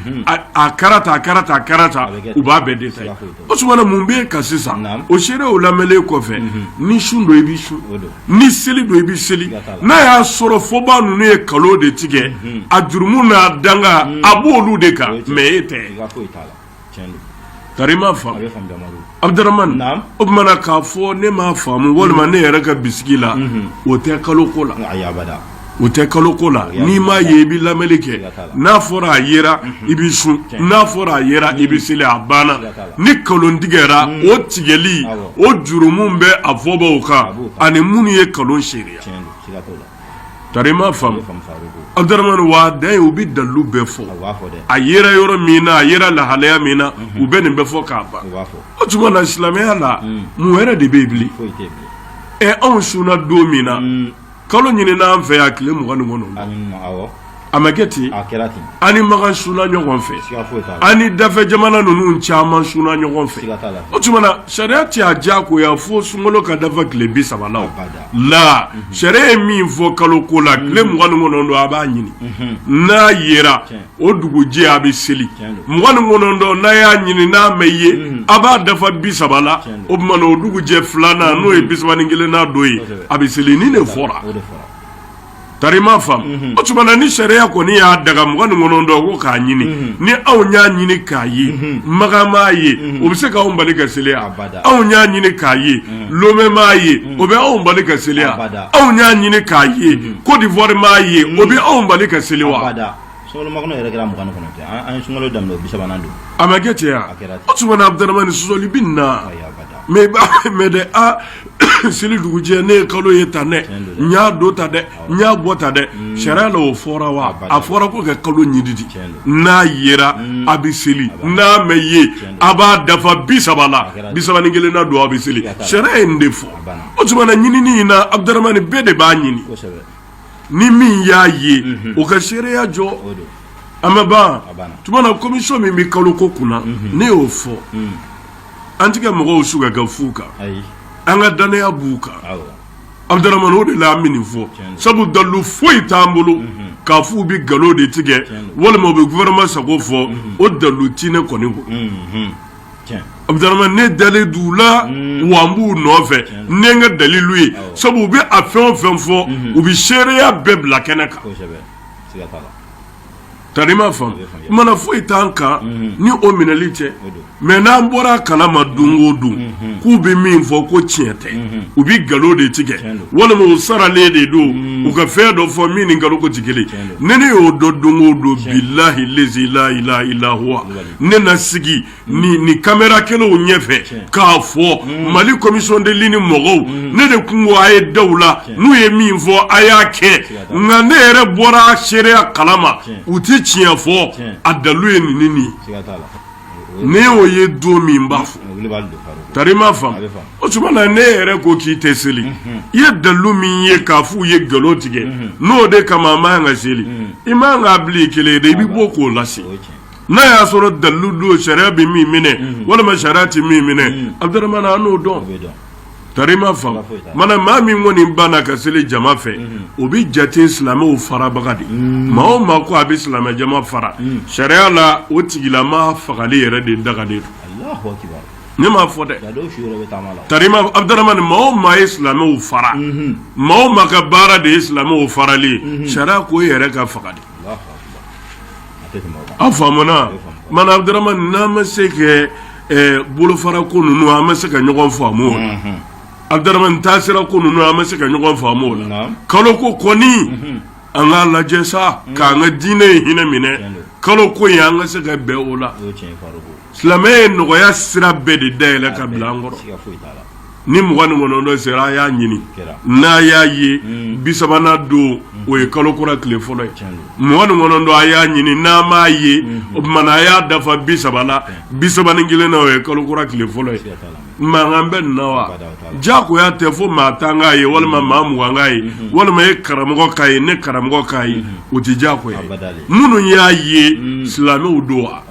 a kɛra tan a kɛra tan a kɛra tan u b'a bɛɛ détaillé o tuma na mun bɛ yen ka sisan o seerew lamɛnlen kɔfɛ ni sun don i bɛ sun ni seli don i bɛ seli n'a y'a sɔrɔ fɔbaa ninnu ye nkalon de tigɛ a jurumu n'a danga a b'olu de kan mɛ e tɛ Tari i m'a faamu Abudaramani o tuma na k'a fɔ ne m'a faamu walima ne yɛrɛ ka bisigi la o tɛ kalo ko la o tɛ kalo ko la n'i m'a ye i bɛ lamɛnni kɛ n'a fɔra a yera i bɛ sun n'a fɔra a yera i bɛ seli a banna ni nkalon tigɛra o tigɛli o jurumu bɛ a fɔbaw kan ani minnu ye nkalon se Tari i m'a faamu Abudaramani wa dan ye u bɛ dalilu bɛɛ fɔ a yera yɔrɔ min na a yera lahalaya min na u bɛ nin bɛɛ fɔ k'a ban o tuma na silamɛya la mun wɛrɛ de bɛ yen bilen ɛ anw sunna don min na kalo ɲinina an fɛ yan tile mugan ni kɔnɔ A ma kɛ ten an ni Makan sunna ɲɔgɔn fɛ an ni dafɛ jamana ninnu caman sunna ɲɔgɔn fɛ o tuma na sariya tɛ a diyagoya fo sunkalo ka dafa tile bi saba la la sariya ye min fɔ kalo ko la tile mugan ni kɔnɔntɔn a b'a ɲini n'a yera o dugujɛ a bɛ seli mugan ni kɔnɔntɔn n'a y'a ɲini n'a ma ye a b'a dafa bi saba la o tuma na o dugujɛ filanan n'o ye bi saba ni kelennan don ye a bɛ seli nin de fɔra Tari i m'a faamu, unhun, o tuma na ni sariya kɔni y'a daga mugan ni kɔnɔntɔn ko k'a ɲini, unhun, ni anw y'a ɲini k'a ye, unhun, Makan m'a ye, unhun, o bɛ se ka anw bali ka seli wa? Abada, anw y'a ɲini k'a ye, unhun, Lome m'a ye, unhun, o bɛ anw bali ka seli wa? Abada, anw y'a ɲini k'a ye, unhun, Cote d'Ivoire m'a ye, unhun, o bɛ anw bali ka seli wa? Abada. Sunkalomakɔnɔ yɛrɛ kɛra mugan ni kɔnɔntɔn ye an ye sunkalo daminɛ o bi sabanan don a ma kɛ ten wa a kɛra ten o tuma na Abudaramani sɔsɔli bɛ nin na ayi abada mais i b'a mɛn dɛ a seli dugujɛ ne ye kalo ye tan dɛ Tiɲɛ don dɛ. n y'a don tan dɛ n y'a bɔ tan dɛ sariya la o fɔra wa Abada. a fɔra ko ka kalo ɲini di Tiɲɛ don. n'a yera a bɛ seli n'a ma ye don. a b'a dafa bi saba la kɛra ten. bi saba ni kelennan don a bɛ seli Siga t'a la. sariya ye nin de fɔ banna. o tuma na ɲinini in na Abudaramani bɛɛ de b'a ɲini kosɛbɛ ni min y'a ye mhm. o ka seereya jɔ a ma ban tuma na komisɔn min bɛ kalo ko kunna mhm. ne y'o fɔ mhm. an tɛ ka mɔgɔw su ka kɛ fu kan an ka dannaya b'u kan Abudaramani o de la an bɛ nin fɔ sabu dalilu foyi t'an bolo k'a f'u bɛ nkalon de tigɛ walima u bɛ gouvernement sago fɔ o dalilu tɛ ne kɔni bolo. Abudaramani ne dalen d'u la mm. wa n b'u nɔfɛ ne n ka dalilu ye sabu u bɛ a fɛn o fɛn fɔ mm-hmm. u bɛ seereya bɛɛ bila kɛnɛ kan tari i m'a faamu mana foyi t'an kan mm-hmm. ni o minɛli cɛ mais n'an bɔra a kala ma don o don mm-hmm. k'u bɛ min fɔ ko tiɲɛ tɛ u bɛ nkalon de tigɛ walima u saralen de don mm. u ka fɛn dɔ fɔ min ni nkalon ko tɛ kelen ye ne y'o dɔn don o don bilahi lezi la ilaha illa huwa ne na sigi ni kamera kelenw ɲɛfɛ k'a fɔ mm. mali commission de lune mɔgɔw mm. ne de kun ko a ye da u la n'u ye min fɔ a y'a kɛ nka ne yɛrɛ bɔra seereya kalama u tɛ tiɲɛ fɔ a dalu ye nin ni nin ye ne y'o ye don min b'a fɔ tari i m'a faamu o tuma na ne yɛrɛ ko k'i tɛ seli mm-hmm. i ye dalu min ye k'a f'u ye nkalon tigɛ mm-hmm. n'o de kama a man kan ka seli mm. i man kan k'a bil'i kelen ye dɛ i bɛ bɔ k'o lase. n'a y'a sɔrɔ dalu don sariya bɛ min minɛ mhm. walima sariya tɛ min minɛ mhm. abuduramani an n'o dɔn tari i m'a faamu mana maa min kɔni banna ka seli jama fɛ mhm. o bɛ jate silamɛw farabaga de maa o maa ko a bɛ silamɛ jama fara sariya la o tigilama fagali yɛrɛ de dagalen don ne m'a fɔ dɛ tarima abuduramani maa o maa ye silamɛw fara maa o maa ka baara de ye silamɛw farali ye sariya k'o yɛrɛ ka faga de an faamuna mana abuduramani n'an ma se ka bolofara ko ninnu an ma se ka ɲɔgɔn faamu o la abuduramani taasira ko ninnu an ma se ka ɲɔgɔn faamu o la kalo ko kɔni an k'a lajɛ sa k'an ka diinɛ in hinɛ minɛ kalo ko in an ka se ka bɛn o la silamɛ ye nɔgɔya sira bɛɛ de dayɛlɛ ka bila an kɔrɔ ni mugan ni kɔnɔntɔn sera a y'a ɲini n'a y'a ye hmm. bi sabanan don hmm. o ye kalo kura tile fɔlɔ ye mugan ni kɔnɔntɔn a y'a ɲini n'a m'a ye hmm. o tuma na a y'a dafa bi saba la bi saba ni kelen na o ye kalo kura tile fɔlɔ ye mankan bɛ nin na wa diyagoya tɛ fo maa tan k'a ye walima maa mugan k'a ye walima e karamɔgɔ k'a ye ne karamɔgɔ k'a ye o tɛ diyagoya ye minnu y'a ye silamɛw don wa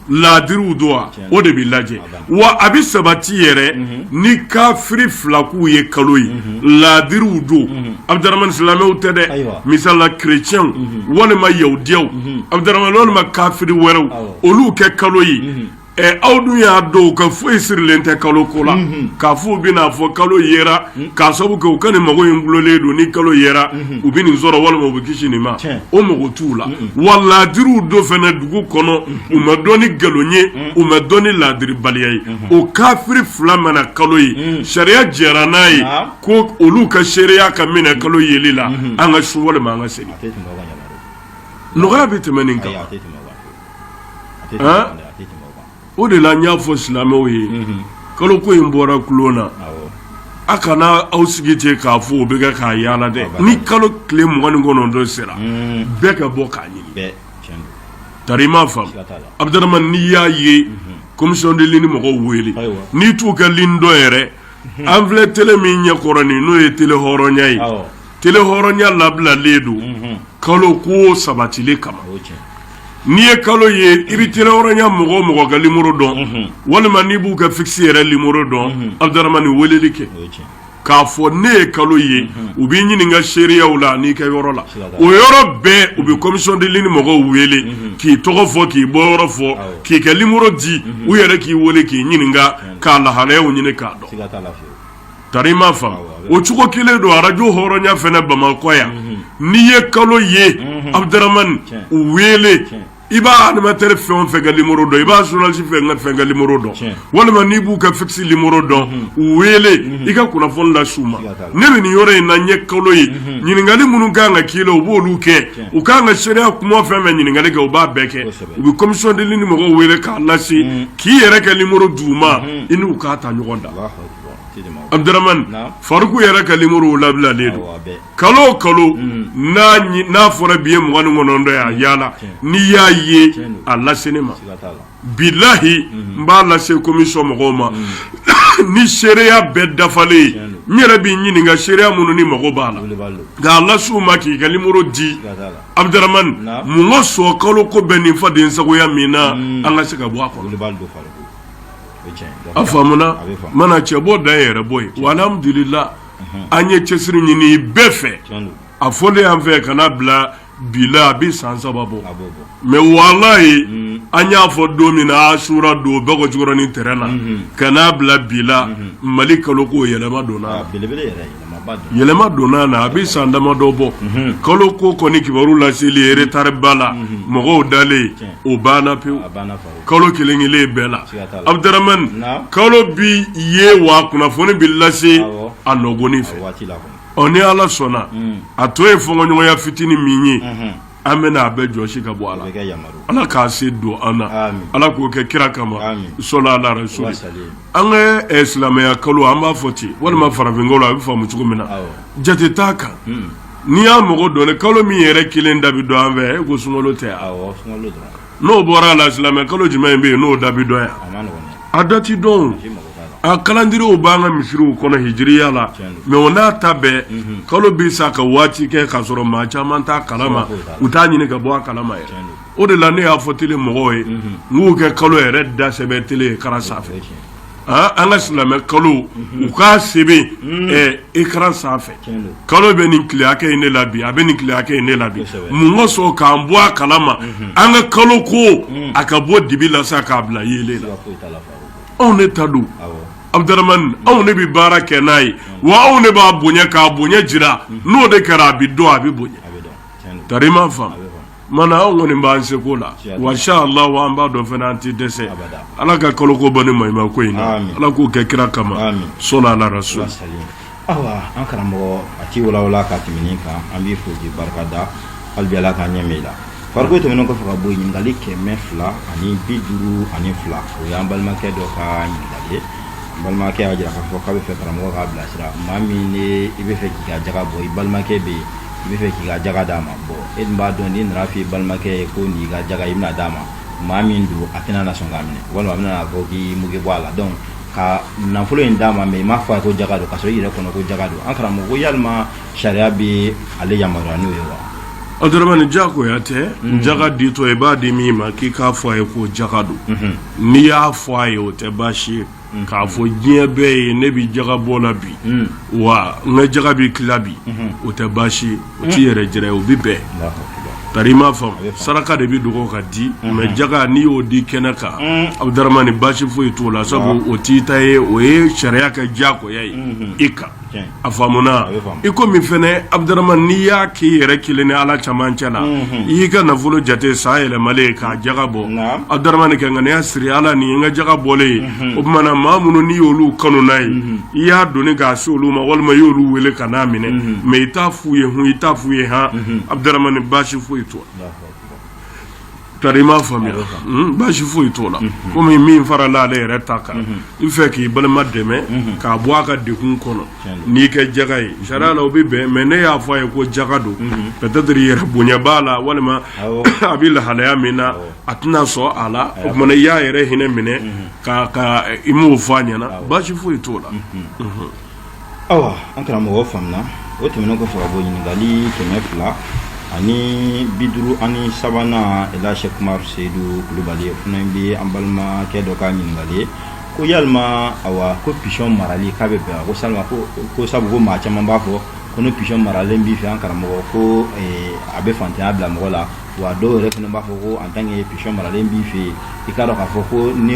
laadiriw don wa o de bɛ lajɛ wa a bɛ sabati yɛrɛ ni kafiri fila k'u ye kalo ye laadiriw don abuduramani silamɛw tɛ dɛ misala kerecɛnw walima yahudiyaw abuduramani walima kafiri wɛrɛw olu ka kalo ye ɛ aw dun y'a dɔn u ka foyi sirilen tɛ kalo ko la k'a f'u bɛn'a fɔ kalo yera K'a sabu kɛ u ka nin mago in dulolen don ni kalo yera u bɛ nin sɔrɔ walima u bɛ kisi nin ma o mako t'u la wa laadiriw don fana dugu kɔnɔ u ma dɔn ni nkalon ye u ma dɔn ni laadiribaliya ye o kafiri fila mana kalo ye sariya jɛra n'a ye ko olu ka seereya ka minɛ kalo yeli la an ka sun walima an ka seli nɔgɔya bɛ tɛmɛ nin kan o de la n y'a fɔ silamɛw ye kalo ko in bɔra kulon na aw kana aw sigi ten k'a fɔ o bɛ kɛ k'a yaala dɛ ni kalo tile mugan ni kɔnɔntɔn sera bɛɛ ka bɔ k'a ɲini tari i m'a faamu abuduramani n'i y'a ye commission de lune mɔgɔw wele n'i t'u ka ligne dɔn yɛrɛ an filɛ tele min ɲɛ kɔrɔ nin n'o ye tele hɔrɔnya ye Tele hɔrɔnya labilalen don kalo ko sabatili kama n'i ye kalo ye i bɛ tele hɔrɔnya mɔgɔ o mɔgɔ ka limoro dɔn walima n'i b'u ka fixe yɛrɛ limoro dɔn abuduramani weleli kɛ k'a fɔ ne ye kalo ye u b'i ɲininka seereyaw la n'i ka yɔrɔ la o yɔrɔ bɛɛ u bɛ commission de lune mɔgɔw wele k'i tɔgɔ fɔ k'i bɔ yɔrɔ fɔ k'i kɛ limoro di u yɛrɛ k'i wele k'i ɲininka k'a lahalayaw ɲini k'a dɔn tari ma fa o cogo kelen don arajo hɔrɔnya fana bamakɔ yan n'i ye kalo ye abuduramani u wele i b'a animateur fɛn o fɛn ka numéro dɔn i b'a journaliste fɛn o fɛn ka numéro dɔn walima n'i b'u ka fixe numéro dɔn u wele i ka kunnafoni las'u ma ne bɛ nin yɔrɔ in na n ye kalo ye ɲininkali minnu kan ka k'i la u b'olu kɛ u kan ka seereya kuma fɛn fɛn ɲininkali kɛ u b'a bɛɛ kɛ u bɛ commission de lune mɔgɔw wele k'a lase k'i yɛrɛ ka numéro d'u ma i n'u k'a ta ɲɔgɔn da. Abudurmani faruku yɛrɛ ka limoro labilalen don kalo kalo n'a fɔra bi ye mugan ni kɔnɔntɔn ye a yaala n'i y'a ye a lase ne ma bilayi n b'a lase commission mɔgɔw ma ni seereya bɛɛ dafalen n yɛrɛ b'i ɲininka seereya minnu ni mago b'a la n k'a las'u ma k'i ka limoro di abudurmani mun kosɔn kalo ko bɛ nin fadensagoya min na an ka se ka bɔ a a faamuna mana cɛ bɔ da yɛrɛ bɔ yen walhamdulillah an ye cɛsiri ɲini bɛɛ fɛ a fɔlen y'an fɛ kana bila bi la a bɛ san saba bɔ mais wallahi an y'a fɔ don min na asura don bakɔjikɔrɔnin terrain na ka n'a bila bi la mali kalo ko yɛlɛma donna yɛlɛma donna na a bɛ san damadɔ bɔ kalo ko kɔni kibaru laseli retard ba la mɔgɔw dalen o banna pewu kalo kelen kelen bɛɛ la abuduramani kalo bi ye wa kunnafoni bɛ lase a nɔgɔni fɛ ɔ ni ala sɔnna hmm. a tɔ ye fɔɲɔgɔnya fitinin min ye mhm. an bɛna a bɛɛ jɔsi ka bɔ a la ala k'a se don an na ala k'o kɛ kira kama sɔla ala rasuli an ka eh, silamɛya kalo an b'a fɔ ten walima hmm. farafinkalo a bɛ faamu cogo min na jate t'a kan hmm. n'i y'a mɔgɔ dɔn kalo min yɛrɛ kelen da bɛ dɔn an fɛ e ko sunkalo tɛ n'o bɔra a la silamɛ kalo jumɛn in bɛ yen n'o da bi dɔn yan a da ti dɔn a kalandiriyew b'an ka misiriw kɔnɔ hijiriya la mɛ o n'a ta bɛɛ mhm. kalo bɛ sa ka waati kɛ k'a sɔrɔ maa caman t'a kalama u t'a ɲini ka bɔ a kalama yɛrɛ o de la ne y'a fɔ tele mɔgɔw ye mhm. n k'u kɛ kalo yɛrɛ da sɛbɛn tele écran sanfɛ Aa an ka silamɛ kalo u k'a sɛbɛn écran sanfɛ kalo bɛ nin tile hakɛ in ne la bi a bɛ nin tile hakɛ in ne la bi mun ka sɔn k'an bɔ a kala ma an ka kalo ko a ka bɔ dibi la sa k'a bila yeelen la anw ne ta don Abdaramani anw ne bɛ baara kɛ n'a ye wa anw ne b'a bonya k'a bonya jira n'o de kɛra a bɛ dɔn a bɛ bonya tari i m'a faamu Tuma anw kɔni b'an seko la wa inshallah an b'a dɔn fana an tɛ dɛsɛ ala ka kalo ko bɔ ni ma ko in na ala k'o kɛ kira kama so awa an karamɔgɔ a ti walawala ka tɛmɛ kan an b'i fo k'i barika da hali bi ala k'an ɲɛ mɛɛn i la farikolo tɛmɛnen kɔfɛ ka bɔ yen ɲininkali kɛmɛ fila ani bi duuru ani fila o y'an balimakɛ dɔ ka ɲininkali ye balimakɛ y'a jira k'a fɔ k'a bɛ fɛ karamɔgɔ k'a bilasira maa min ne i bɛ fɛ k'i ka jaga bɔ i balimakɛ bɛ yen i bɛ fɛ k'i ka jaga d'a ma bon e dun b'a dɔn n'i nana f'i balimakɛ ye ko n'i ka jaga i bɛna d'a ma maa min don a tɛna na sɔn k'a minɛ walima a bɛna fɔ k'i mugu bɔ a la donc ka nafolo in d'a ma mais i m'a fɔ a ye ko jaga don ka sɔrɔ i yɛrɛ kɔnɔ ko jaga don an karamɔgɔ ko yalima sariya bɛ ale yamaruya n'o ye wa Abdaramani jagoya tɛ mhm. jaga ditɔ i b'a di min ma k'i k'a fɔ a ye ko jaga don mhm. n'i y'a fɔ a ye o tɛ baasi ye k'a fɔ diɲɛ bɛɛ ye ne bɛ jaga bɔ la bi hmm. wa n ka jaga bɛ tila bi hmm. o tɛ baasi ye o t'i hmm. yɛrɛ jira ye o bɛ bɛn tari i m'a faamu saraka de bɛ dogo ka di mais jaga n'i y'o di kɛnɛ kan Abdaramani baasi foyi t'o la sabu o t'i ta ye o ye sariya ka jagoya ye i kan a faamuna i ko min fɛnɛ Abdaramani n'i y'a k'i yɛrɛ kelen ni ala camancɛ la i y'i ka nafolo jate san yɛlɛmalen k'a jaga bɔ Abdaramani ka ŋaniya siri ala nin ye n ka jaga bɔlen ye o tumana maa minnu n'i y'olu kanu n'a ye i y'a doni k'a se olu ma walima i y'olu wele ka n'a minɛ mais i t'a f'u ye hun i t'a f'u ye han Abdaramani baasi foyi t'o Tari i m'a faamuya baasi foyi t'o la kɔmi min farala ale yɛrɛ ta kan i fɛ k'i balima dɛmɛ k'a bɔ a ka degun kɔnɔ n'i ka jaga ye sariya la o bɛ bɛn mais n'e y'a fɔ a ye ko jaga don peut-être yɛrɛ bonya b'a la walima a bɛ lahalaya min na a tɛna sɔn a la o tuma i y'a yɛrɛ hinɛ minɛ k'i m'o fɔ a ɲɛna baasi foyi t'o la awa an karamɔgɔ faamuna o tɛmɛnen kɔfɛ ka bɔ ɲininkali kɛmɛ fila ani bi duuru ani sabanan ila Sheikh Umar Seyidu Kulubali o fana bɛ an balimakɛ dɔ ka ɲininkali ye ko yalima awa ko pigeon marali k'a bɛ bɛn ko salima ko sabu ko maa caman b'a fɔ ko ni pigeon maralen b'i fɛ an karamɔgɔ ko a bɛ faantanya bila mɔgɔ la wa dɔw yɛrɛ fana b'a fɔ ko en tant que pigeon maralen b'i fɛ yen i k'a dɔn k'a fɔ ko ni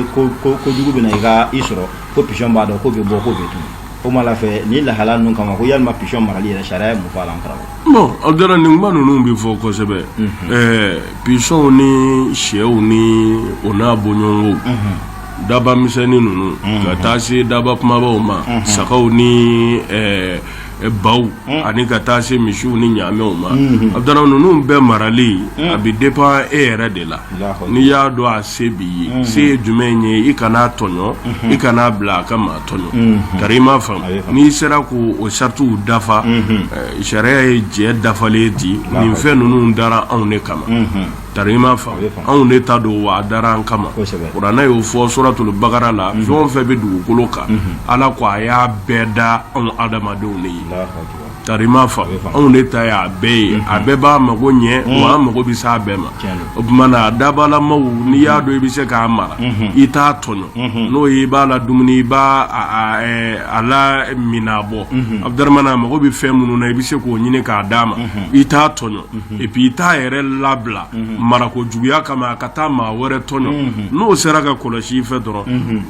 kojugu bɛ na i ka i sɔrɔ ko pigeon b'a dɔn ko bɛ bɔ ko bɛ tunun o ma la fɛ ni lahala ninnu kama ko yalima pigeon marali yɛrɛ sariya ye mun fɔ a la an karamɔgɔ bon Abudramani nin kuma ninnu bɛ fɔ kosɛbɛ ɛɛ pigeonw ni shɛw ni o n'a bɔɲɔgɔnko daba misɛnnin ninnu ka taa se daba kumabaw ma sagaw ni ɛɛ baw ani ka taa se misiw ni ɲamɛw ma Abudramani ninnu bɛɛ marali a bɛ dépend e yɛrɛ de la n'i y'a dɔn a se b'i ye se ye jumɛn ye i kan'a tɔɲɔ i kan'a bila a ka maa tɔɲɔ tari i m'a faamu n'i sera k'o saratiw dafa sariya ye jɛ dafalen di nin fɛn ninnu dara anw de kama Tari i m'a faamu, anw de ta don wa a dara an kama, kosɛbɛ, kuranɛ y'o fɔ suratul bakara la fɛn o fɛn bɛ dugukolo kan Ala ko a y'a bɛɛ da anw adamadenw de ye, Alahu akbar, tari i m'a faamu, anw de ta y'a bɛɛ ye, a bɛɛ b'an mago ɲɛ wa an mago bɛ s'a bɛɛ ma, tiɲɛ don, o tuma na a dabalamaw n'i y'a dɔn i bɛ se k'a mara i t'a tɔɲɔ n'o ye i b'a ladumuni i b'a a a ɛ, a lamin Abudramani a mago bɛ fɛn minnu na i bɛ se k'o ɲini k'a d'a ma i t'a tɔɲɔ et puis i t'a yɛrɛ labila marako juguya kama a ka taa maa wɛrɛ tɔɲɔ n'o sera ka kɔlɔsi i fɛ dɔrɔn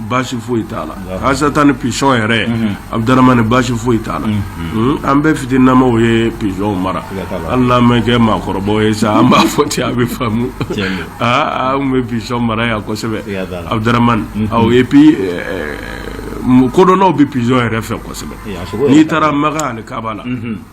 basi foyi t'a la hasatan nin pigeon yɛrɛ Abudramani basi foyi t'a la an bɛɛ fitininnama ye pigeonw mara hali n'an mɛ kɛ maakɔrɔba ye sa an b'a fɔ ten a bɛ faamu aaa an bɛ pigeon mara yan kosɛbɛ Abudramani et puis kodɔnnaw bɛ pigeon yɛrɛ fɛ kosɛbɛ n'i taara makan ani kaaba la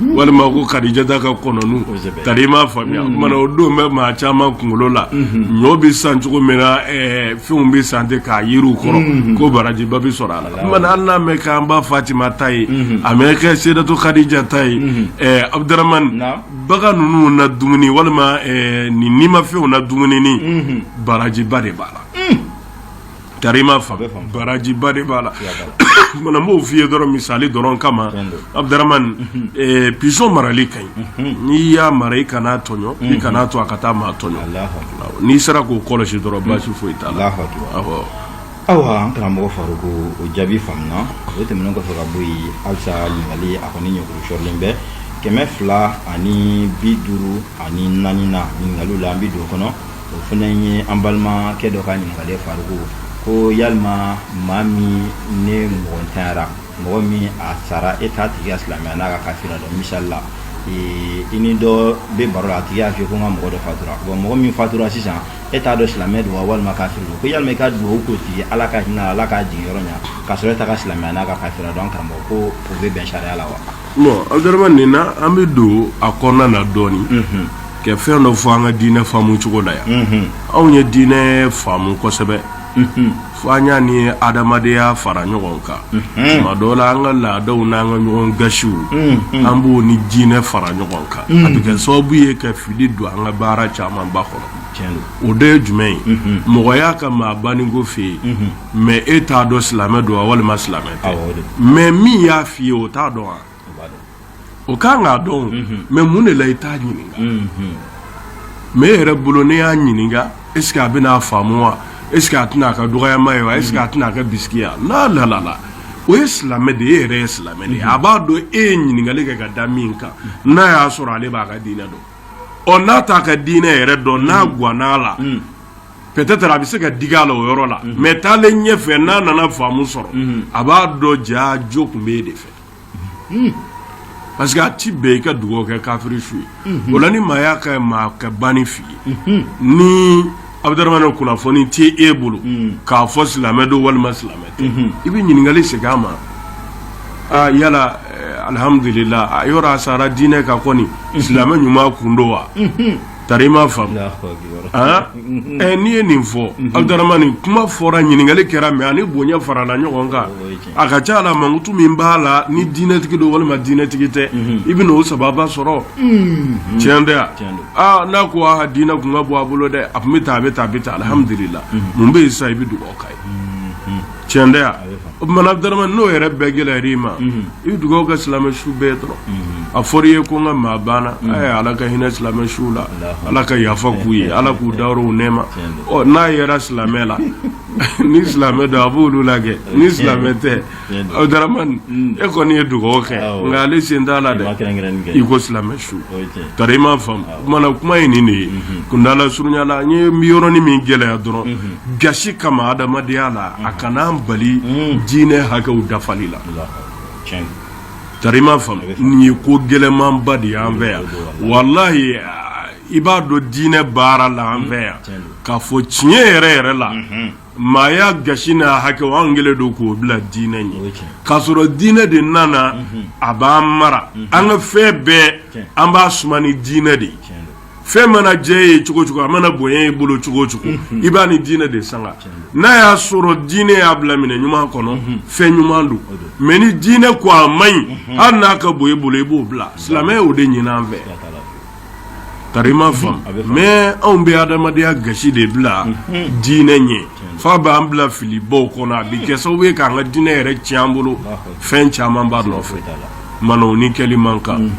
walima ko kadijata ka kɔnɔw tari i m'a faamuya mana o don bɛ maa caman kunkolo la ɲɔ bɛ san cogo min na fɛnw bɛ san ten k'a yuri u kɔrɔ ko barajiba bɛ sɔrɔ a la hali n'a mɛ k'an ba fatima ta ye a mɛ kɛ seyidatu kadija ta ye Abudramani bagan ninnu na dumuni walima nin nimafɛnw na dumuni barajiba de b'a la Tari i m'a faamu barajiba de b'a la mana n b'o f'i ye dɔrɔn misali dɔrɔn kama Abudramani pigeon marali ka ɲi n'i y'a mara i kan'a tɔɲɔ i kan'a to a ka taa maa tɔɲɔ n'i sera k'o kɔlɔsi dɔrɔn basi foyi t'a la ayiwa an karamɔgɔ Faruku o jaabi faamuna o tɛmɛnen kɔfɛ ka bɔ yen halisa ɲininkali a kɔni ɲɛkuru sɔrɔlen bɛ kɛmɛ fila ani bi duuru ani naaninan ɲininkaliw la an bɛ don o kɔnɔ o fana ye an balimakɛ dɔ ka ɲininkali Faruku ko yalima maa min ne mɔgɔ ntanyara mɔgɔ min a sara e t'a tigi ka silamɛya n'a ka kafiriya dɔn misali la i ni dɔ bɛ baro la a tigi y'a fɔ ko n ka mɔgɔ dɔ fatura bon mɔgɔ min fatura sisan e t'a dɔn silamɛ don wa walima kafiri don ko yalima i ka dugawu k'o tigi ala ka hinɛ a la k'a jigin yɔrɔ ɲɛ k'a sɔrɔ e t'a ka silamɛya n'a ka kafiriya dɔn an karamɔgɔ ko o bɛ bɛn sariya la wa Abdaramani nin na an bɛ don a kɔnɔna na dɔɔnin ka fɛn dɔ fɔ an ka diinɛ faamu cogo la yan anw ye diinɛ faamu kosɛbɛ fo an y'a ni adamadenya fara ɲɔgɔn kan tuma dɔ la an ka laadaw n' an ka ɲɔgɔn gasiw an b'o ni diinɛ fara ɲɔgɔn kan a bɛ kɛ sababu ye ka fili don an ka baara camanba kɔnɔ o de ye jumɛn ye mɔgɔ y'a ka maa banni ko f'e ye mais e t'a dɔn silamɛ don wa walima silamɛ tɛ mais min y'a f'i ye o t'a dɔn wa o ka kan k'a dɔn mais mun de la i t'a ɲininka mais e yɛrɛ bolo ne y'a ɲininka est-ce que a bɛn'a faamu wa est-ce que a tɛna a ka dɔgɔyama ye wa est-ce que a tɛna a ka biya n'a lalala o ye silamɛ de ye e yɛrɛ ye silamɛ de ye a b'a dɔn e ye ɲininkali kɛ ka da min kan n'a y'a sɔrɔ ale b'a ka diinɛ dɔn ɔ n'a t'a ka diinɛ yɛrɛ dɔn n'a ganna Peut-être a bɛ se ka digi a la o yɔrɔ la mais taalen ɲɛfɛ n'a nana faamu sɔrɔ a b'a dɔn jaa jo tun bɛ e de fɛ parce que a tɛ bɛn i ka dugawu kɛ kafiri su ye o la ni maa y'a ka maa ka banni f'i ye ni Abdaramani kunnafoni tɛ e bolo k'a fɔ silamɛ don walima silamɛ tɛ i bɛ ɲininkali segin a ma aa yala alihamdulila a yɔrɔ a sara diinɛ kan kɔni silamɛ ɲuman kun don wa Tari i m'a faamu n'i ye nin fɔ Abdaramani kuma fɔra ɲininkali kɛra mais ani bonya farala ɲɔgɔn kan a ka ca la mankutu min b'a la ni diinɛtigi don walima diinɛtigi tɛ i bɛna o sababa sɔrɔ tiɲɛ tɛ yan n'a ko a diinɛ kun ka bon a bolo dɛ a tun bɛ taa a bɛ taa a bɛ taa alihamdulila mun bɛ yen sa i bɛ dugawu k'a ye tiɲɛ tɛ yan o tumana Abdaramani n'o yɛrɛ bɛɛ gɛlɛyara i ma i bɛ dugawu kɛ silamɛ su bɛɛ dɔrɔn a fɔra i ye ko n ka maa banna ɛ Ala ka hinɛ silamɛ suw la Ala ka yafa k'u ye Ala k'u dayɔrɔ u nɛɛma ɔ n'a yera silamɛ la ni silamɛ don a b'olu la kɛ ni silamɛ tɛ Abdaramani e kɔni ye dugawu kɛ nka ale sen t'a la dɛ i ko silamɛ su tari i m'a faamu. O tumana kuma ye nin de ye kundala surunyala an ye min yɔrɔnin min gɛlɛya dɔrɔn gasi kama adamadenya la a kana an bali diinɛ hakɛw dafali la tari i m'a faamu nin ye ko gɛlɛmanba de y'an fɛ yan walahi i b'a dɔn diinɛ baara la an fɛ yan k'a fɔ tiɲɛ yɛrɛ yɛrɛ la maaya gasi n'a hakɛw an kɛlen don k'o bila diinɛ ɲɛ k'a sɔrɔ diinɛ de nana mhm. a b'an mara mhm. an ka fɛn bɛɛ an b'a suma ni diinɛ de ye fɛn mana jɛ ye cogo cogo a mana bonya i bolo cogo cogo mhm. i b'a ni diinɛ de sanga n'a y'a sɔrɔ diinɛ y'a bila minɛ ɲuman kɔnɔ mhm. fɛn ɲuman don mais ni diinɛ ko a man ɲi mhm. hali n'a ka bon e bolo i b'o bila silamɛ y'o de ɲini an fɛ Ka ma faamu mais anw bɛ adamadenya gasi de bila dinɛ ɲɛ f'a b'an bila filibaw kɔnɔ a bi kɛ sababu ye k'an ka dinɛ yɛrɛ tiɲɛ an bolo fɛn caman b'a nɔfɛ mana o ni kɛli man kan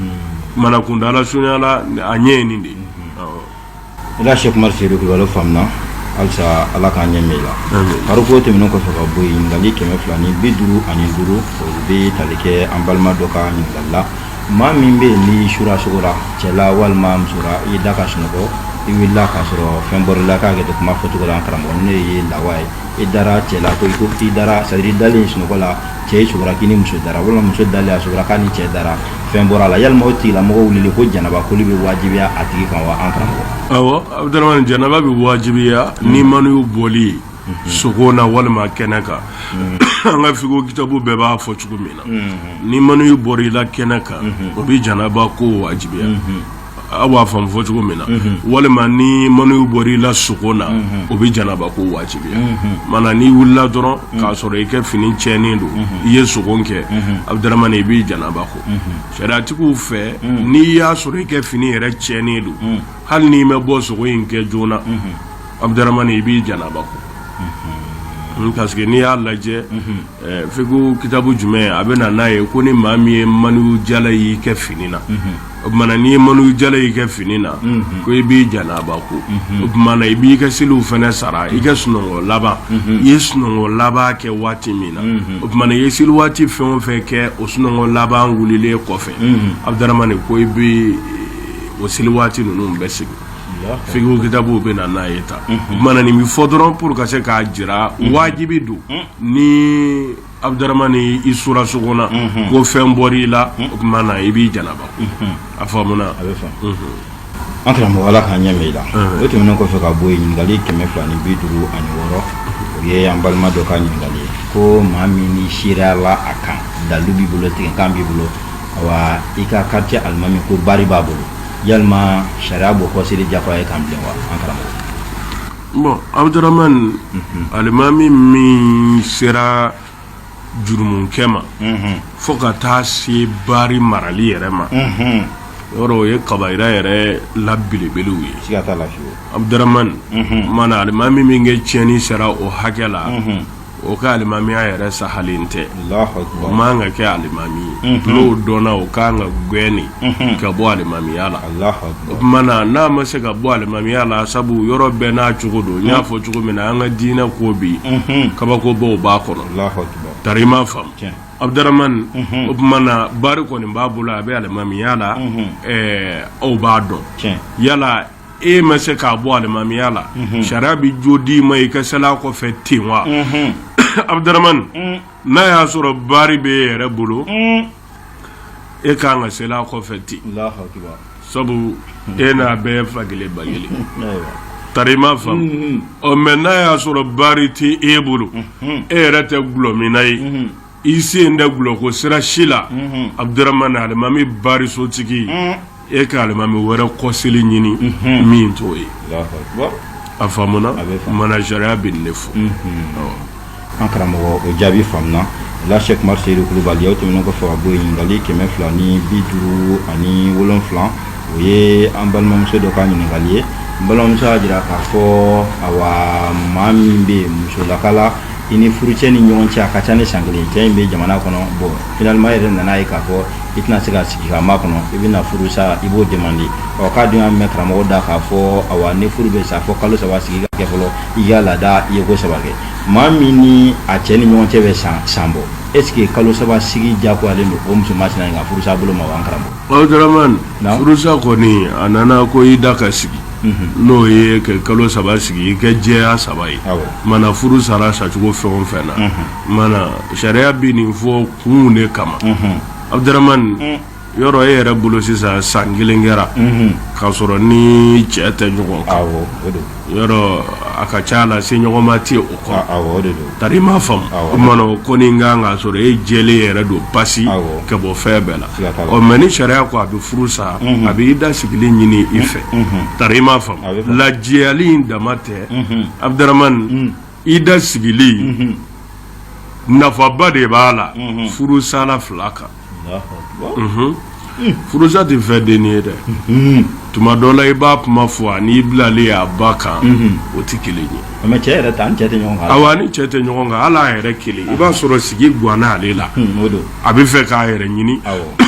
mana kunda la sonyala a ɲɛ ye nin de ye se kuma se faamuna halisa ala k'an ɲɛ la kari ko tɛmɛnen kɔfɛ ka bɔ ɲininkali kɛmɛ fila ni bi duuru ani duuru o bɛ tali kɛ an balima dɔ ka ɲininkali la maa min bɛ yen n'i sura sogora cɛla walima musora i da ka sunɔgɔ i wulila k'a sɔrɔ fɛn bɔr'i la k'a kɛ kuma fɔcogo la karamɔgɔ ne ye lawa ye i dara cɛla ko i ko i dara c'est-à-dire i dalen sunɔgɔ la cɛ i sogora k'i ni muso dara walima muso dalen a sogora k'a ni cɛ dara fɛn bɔr'a la yalima o tigilamɔgɔ wulili kɔ janaba koli bɛ wajibiya a tigi kan wa an karamɔgɔ awɔ Abudaramani janaba bɛ wajibiya ni maniyu bɔli ye sogo na walima kɛnɛ kan an ka fikihu kitabu bɛɛ b'a fɔ cogo min na ni maniyu bɔra i la kɛnɛ kan o bɛ janaba ko wajibiya aw b'a fɔ fɔ cogo min na walima ni maniyu bɔra i la sogo na o bɛ janaba ko wajibiya mana n'i wulila dɔrɔn k'a sɔrɔ i kɛ fini tiɲɛnen don i ye sogo kɛ Abudaramani i b'i janaba ko sariyatigiw fɛ n'i y'a sɔrɔ i kɛ fini yɛrɛ tiɲɛnen don hali n'i ma bɔ sogo in kɛ joona na Abudaramani i b'i janaba ko parce que n'i y'a lajɛ fikihu kitabu jumɛn a bɛ na n'a ye ko ni maa min ye maniyu jalan y'i kɛ fini na o tuma n'i ye maniyu jalan y'i kɛ fini na ko i b'i janaba ko o tuma i b'i ka seliw fana sara i ka sunɔgɔ laban i ye sunɔgɔ laban kɛ waati min na o tuma i ye seli waati fɛn o fɛn kɛ o sunɔgɔ laban wulilen kɔfɛ Abudaramani ko i bɛ o seli waati ninnu bɛɛ segin Fikihu kitabuw bɛ na n'a ye tan mana nin bɛ fɔ dɔrɔn pour ka se k'a jira wajibi don ni Abudaramani i sura sogona ko fɛn bɔr'i la o tuma na i b'i janaba a faamuna a bɛ faamu an karamɔgɔ ala k'an ɲɛ i la o tɛmɛnen kɔfɛ ka bɔ ɲininkali kɛmɛ fila ni bi duuru ani wɔɔrɔ o ye an balima dɔ ka ɲininkali ko maa min ni se la a kan dalu b'i bolo tigɛ kan b'i bolo i ka quartier alimami ko bari b'a bolo yalima sariya b'o kɔ seli jafa ye kan wa Abudaramani alimami min sera jurumunkɛ ma fo ka taa se bari marali yɛrɛ ma yɔrɔ o ye kabayira yɛrɛ la belebelew ye Abudaramani mana alimami min kɛ tiɲɛni sera o hakɛ la o ka alimamiya yɛrɛ sahalen tɛ o man kan ka kɛ alimami ye mhm. n'o dɔnna o ka kan ka gɛn de mhm. ka bɔ alimamiya la o tuma na n'a ma se ka bɔ alimamiya la sabu yɔrɔ bɛɛ n'a cogo don n y'a fɔ cogo min na an ka diinɛ ko bi mhm. kabakobaw b'a kɔnɔ tari i m'a faamu abudramani o tuma na bari kɔni b'a bolo a bɛ alimamiya la aw b'a dɔn yala e ma se k'a bɔ alimamiya la mhm. sariya bɛ jo d'i ma i ka sel'a kɔfɛ ten wa mhm. abudaramani mm. n'a y'a sɔrɔ bari bɛ e yɛrɛ bolo mm. e kan ka sel'a kɔfɛ ten sabu mm. e n'a bɛɛ fa kelen ba kelen tari i m'a faamu mm-hmm. ɔ mais n'a y'a sɔrɔ bari tɛ e bolo mm-hmm. e yɛrɛ tɛ gulɔminna ye mm-hmm. i sen tɛ gulɔko sira si la abudramani alimami barisotigi e ka alimami wɛrɛ kɔseli ɲini min t'o ye a faamuna mana sariya bɛ nin fɔ an karamɔgɔ o jaabi faamuna la sɛki umar seyidu kulubali aw tɛmɛnen kɔfɛ ka bɔ yen ɲininkali kɛmɛ fila ni bi duuru ani wolonfila o ye an balimamuso dɔ ka ɲininkali ye n balimamuso y'a jira k'a fɔ awa maa min bɛ yen musolaka la i ni furucɛ ni ɲɔgɔn cɛ a ka ca ni san kelen cɛ in bɛ jamana kɔnɔ bon finalement e yɛrɛ nana ye k'a fɔ i tɛna se ka sigi k'a makɔnɔ i bɛna furu sa i b'o demande ɔ k'a dun y'a mɛn karamɔgɔ da k'a fɔ awa ni furu bɛ sa fo kalo saba sigi ka kɛ fɔlɔ i ka laada ye ko saba kɛ maa min ni a cɛ ni ɲɔgɔn cɛ bɛ san bɔ est ce que kalo saba sigi diyagoyalen don o muso masina in ka furusa bolo ma wa an karamɔgɔ Abdramane, Naamu. furusa kɔni a nana ko ida ka sigi n'o ye ka kalo saba sigi i ka jɛya saba ye mana furu sara sacogo fɛn o fɛn na mana sariya bɛ nin fɔ kun de kama abudramani yɔrɔ e yɛrɛ bolo sisan san kelen kɛra k'a sɔrɔ ni cɛ tɛ ɲɔgɔn kan yɔrɔ a ka ca la se ɲɔgɔn ma tɛ o kɔ tari i m'a faamu mana o kɔni kan k'a sɔrɔ e jɛlen yɛrɛ don pasi ka bɔ fɛn bɛɛ la ɔ mais ni sariya ko a bɛ furu sa a bɛ ida sigili ɲini i fɛ tari i m'a faamu lajɛyali in dama tɛ abudramani ida sigili nafaba de b'a la furusala fila kan furusa tɛ fɛn dennin ye dɛ tuma dɔ la i b'a kuma fɔ ani i bilali a ba kan o tɛ kelen ye awa a ni cɛ tɛ ɲɔgɔn kan hali a yɛrɛ kelen i b'a sɔrɔ sigi ganna ale la a b'a fɛ k'a yɛrɛ ɲini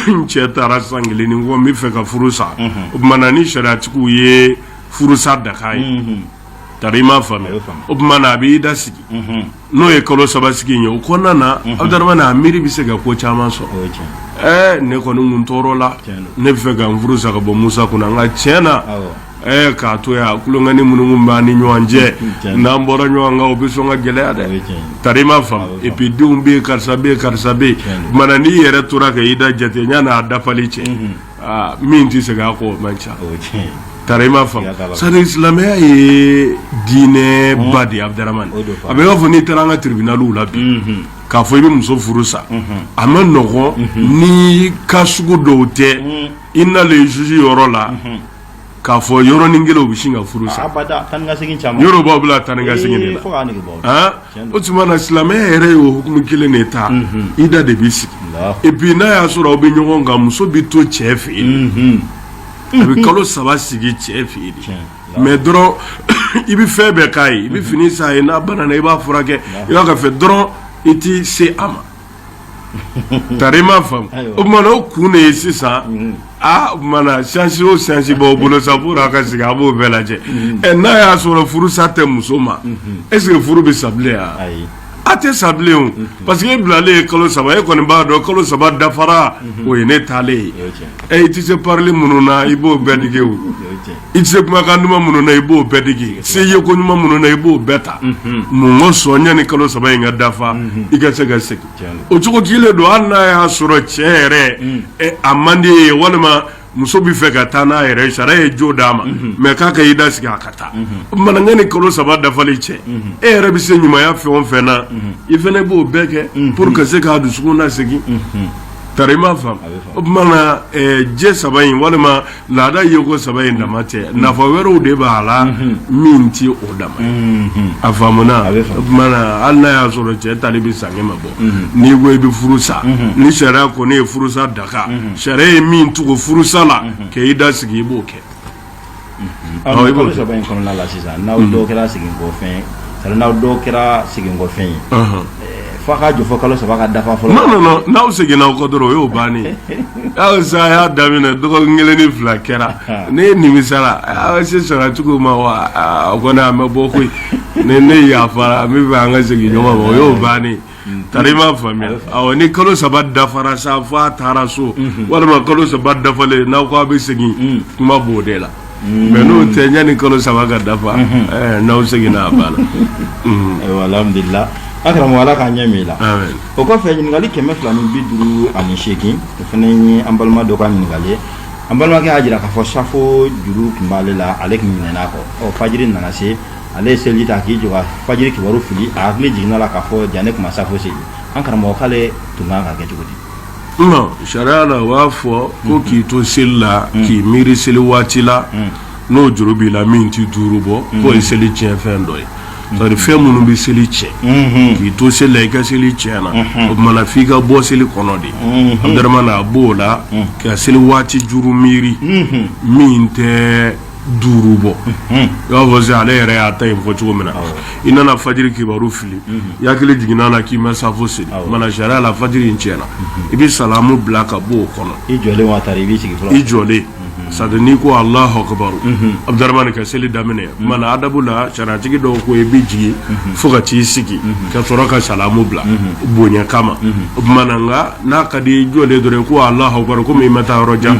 n cɛ taara san kelen ni kɔ n b'a fɛ ka furu sa o tuma na ni sariyatigiw ye furusa daga a ye tari i m'a faamu o tuma na a bɛ ida sigi n'o ye kalo saba sigi ye o kɔnɔna na abudramani a miiri bɛ se ka ko caman sɔrɔ ɛɛ ne kɔni tun tɔɔrɔla ne b'a fɛ ka n furu sa ka bɔ musa kun na nka tiɲɛ na Ɛɛ k'a to yan tulonkɛ nin minnu b'an ni ɲɔgɔn cɛ n'an bɔra ɲɔgɔn kan o bɛ sɔn ka gɛlɛya dɛ tari ma faamu et puis denw bɛ yen karisa bɛ yen karisa bɛ yen mais n'i yɛrɛ tora ka ida jate yann'a dafali cɛ min tɛ segin a kɔ o man ca tari ma faamu sani silamɛya ye diinɛ ba de ye adama a b'a fɔ n'i taara an ka tiribinaliw la bi k'a fɔ i bɛ muso furu sa a man nɔgɔn ni cas sugu dɔw tɛ i nalen juge yɔrɔ la k'a fɔ yɔrɔnin kelen u bɛ sin ka furu sa abada taa ni ka segin caman yɔrɔ b'a bila taa ni ka segin de Ee, la fo k'a nege bɔ han Tiɲɛ don. o tuma na silamɛya yɛrɛ ye o hukumu kelen de ta ida de bɛ sigi Alahu. et puis n'a y'a sɔrɔ aw bɛ ɲɔgɔn kan muso bɛ to cɛ fɛ yen a bɛ kalo saba sigi cɛ fɛ yen dɛ Tiɲɛ. mais dɔrɔn i bɛ fɛn bɛɛ k'a ye i bɛ fini san a ye n'a banana i b'a furakɛ i b'a ka fɛn dɔrɔn i tɛ se a ma tari ma faamu o tumana o kun de ye sisan mm-hmm. aa o tumana chance o chance b'aw bolo sa pour a ka sigi a b'o bɛɛ lajɛ mm-hmm. ɛ n'a y'a sɔrɔ furusa tɛ muso ma mm-hmm. est ce que furu bɛ sa bilen wa a tɛ sa bilen o parce que e bilalen ye kalo saba e kɔni b'a dɔn kalo saba dafara o ye ne taalen ye ɛ i tɛ se parili minnu na i b'o bɛɛ dege o. i tɛ se kumakan duman minnu na i b'o bɛɛ dege se ye ko ɲuman minnu na i b'o bɛɛ ta mun kosɔn yanni kalo saba in ka dafa i ka se ka segin o cogo kelen don hali n'a y'a sɔrɔ cɛ yɛrɛ a man di ye walima muso b'a fɛ ka taa n'a yɛrɛ sariya ye jo d'a ma mais k'a ka ida sigi a ka taa mais yanni kalo saba dafali cɛ e yɛrɛ bɛ se ɲumanya fɛn o fɛn na i fana b'o bɛɛ kɛ pour ka se k'a dusukun lasegin tari i m'a faamu o tuma na jɛ saba in walima laada ye ko saba in dama tɛ nafa wɛrɛw de b'a la min tɛ o dama ye a faamuna o tumana hali n'a y'a sɔrɔ cɛ taali bɛ san kɛmɛ bɔ n'i ko i bɛ furu sa ni sariya kɔni ye furusa daga sariya ye min tugu furusa la ka ida sigi i b'o kɛ kalo saba in kɔnɔna la sisan n'aw dɔw kɛra seginkɔfɛn n'aw dɔw kɛra seginkɔfɛn ye F'a ka jɔ fo kalo saba ka dafa fɔlɔ non non non n'aw seginna aw kɔ dɔrɔn o y'o bannen ye hali sa a y'a daminɛ dɔgɔkun kelen ni fila kɛra ne nimisara aa se sara cogo ma wa aa o kɔni an bɛ bɔ koyi ne ne yafara min fɛ an ka segin ɲɔgɔn ma o y'o bannen ye tari m'a faamuya awɔ ni kalo saba dafara sa fo a taara so walima kalo saba dafalen n'aw ko a bɛ segin kuma b'o de la mais n'o tɛ yanni kalo saba ka dafa n'aw seginna a banna alhamdulilahi an karamɔgɔ ala k'an ɲɛ mɛɛn i la o kɔfɛ ɲininkali kɛmɛ fila ni bi duuru ani seegin o fana ye an balima dɔ ka ɲininkali ye an balimakɛ y'a jira k'a fɔ safo juru tun b'ale la ale tun ɲinɛna a kɔ fajiri nana se ale ye seliji ta k'i jɔ ka fajiri kabaru fili a hakili jiginna a la k'a fɔ jaa ne tun ma safo seli an karamɔgɔ k'ale tun kan ka kɛ cogo di sariya la u b'a fɔ ko k'i to seli la k'i miiri seli waati la n'o juru b'i la min tɛ duuru bɔ k'o ye seli tiɲɛ fɛn dɔ ye c'est à dire fɛn minnu bɛ seli tiɲɛ k'i to seli la i ka seli tiɲɛna o tuma na f'i ka bɔ seli kɔnɔ de Abdramane a b'o la ka seli waati juru miiri min tɛ duuru bɔ i b'a fɔ ale yɛrɛ y'a ta in fɔ cogo min na i nana fajiri kibaru fili i hakili jiginn'a la k'i ma safo seli mana sariya la fajiri in tiɲɛna i bɛ salamu bila ka bɔ o kɔnɔ i jɔlen wa tari i b'i sigi fɔlɔ i jɔlen c'est à dire n'i ko Allahu akbar Abdramane ka seli daminɛ mana adabu la sariyatigi dɔw ko i bɛ jigin fo ka t'i sigi ka sɔrɔ ka salamu bila bonya kama o tuma na nka n'a ka di i jɔlen dɔrɔn ko Allahu akbar komi i ma taa yɔrɔ jan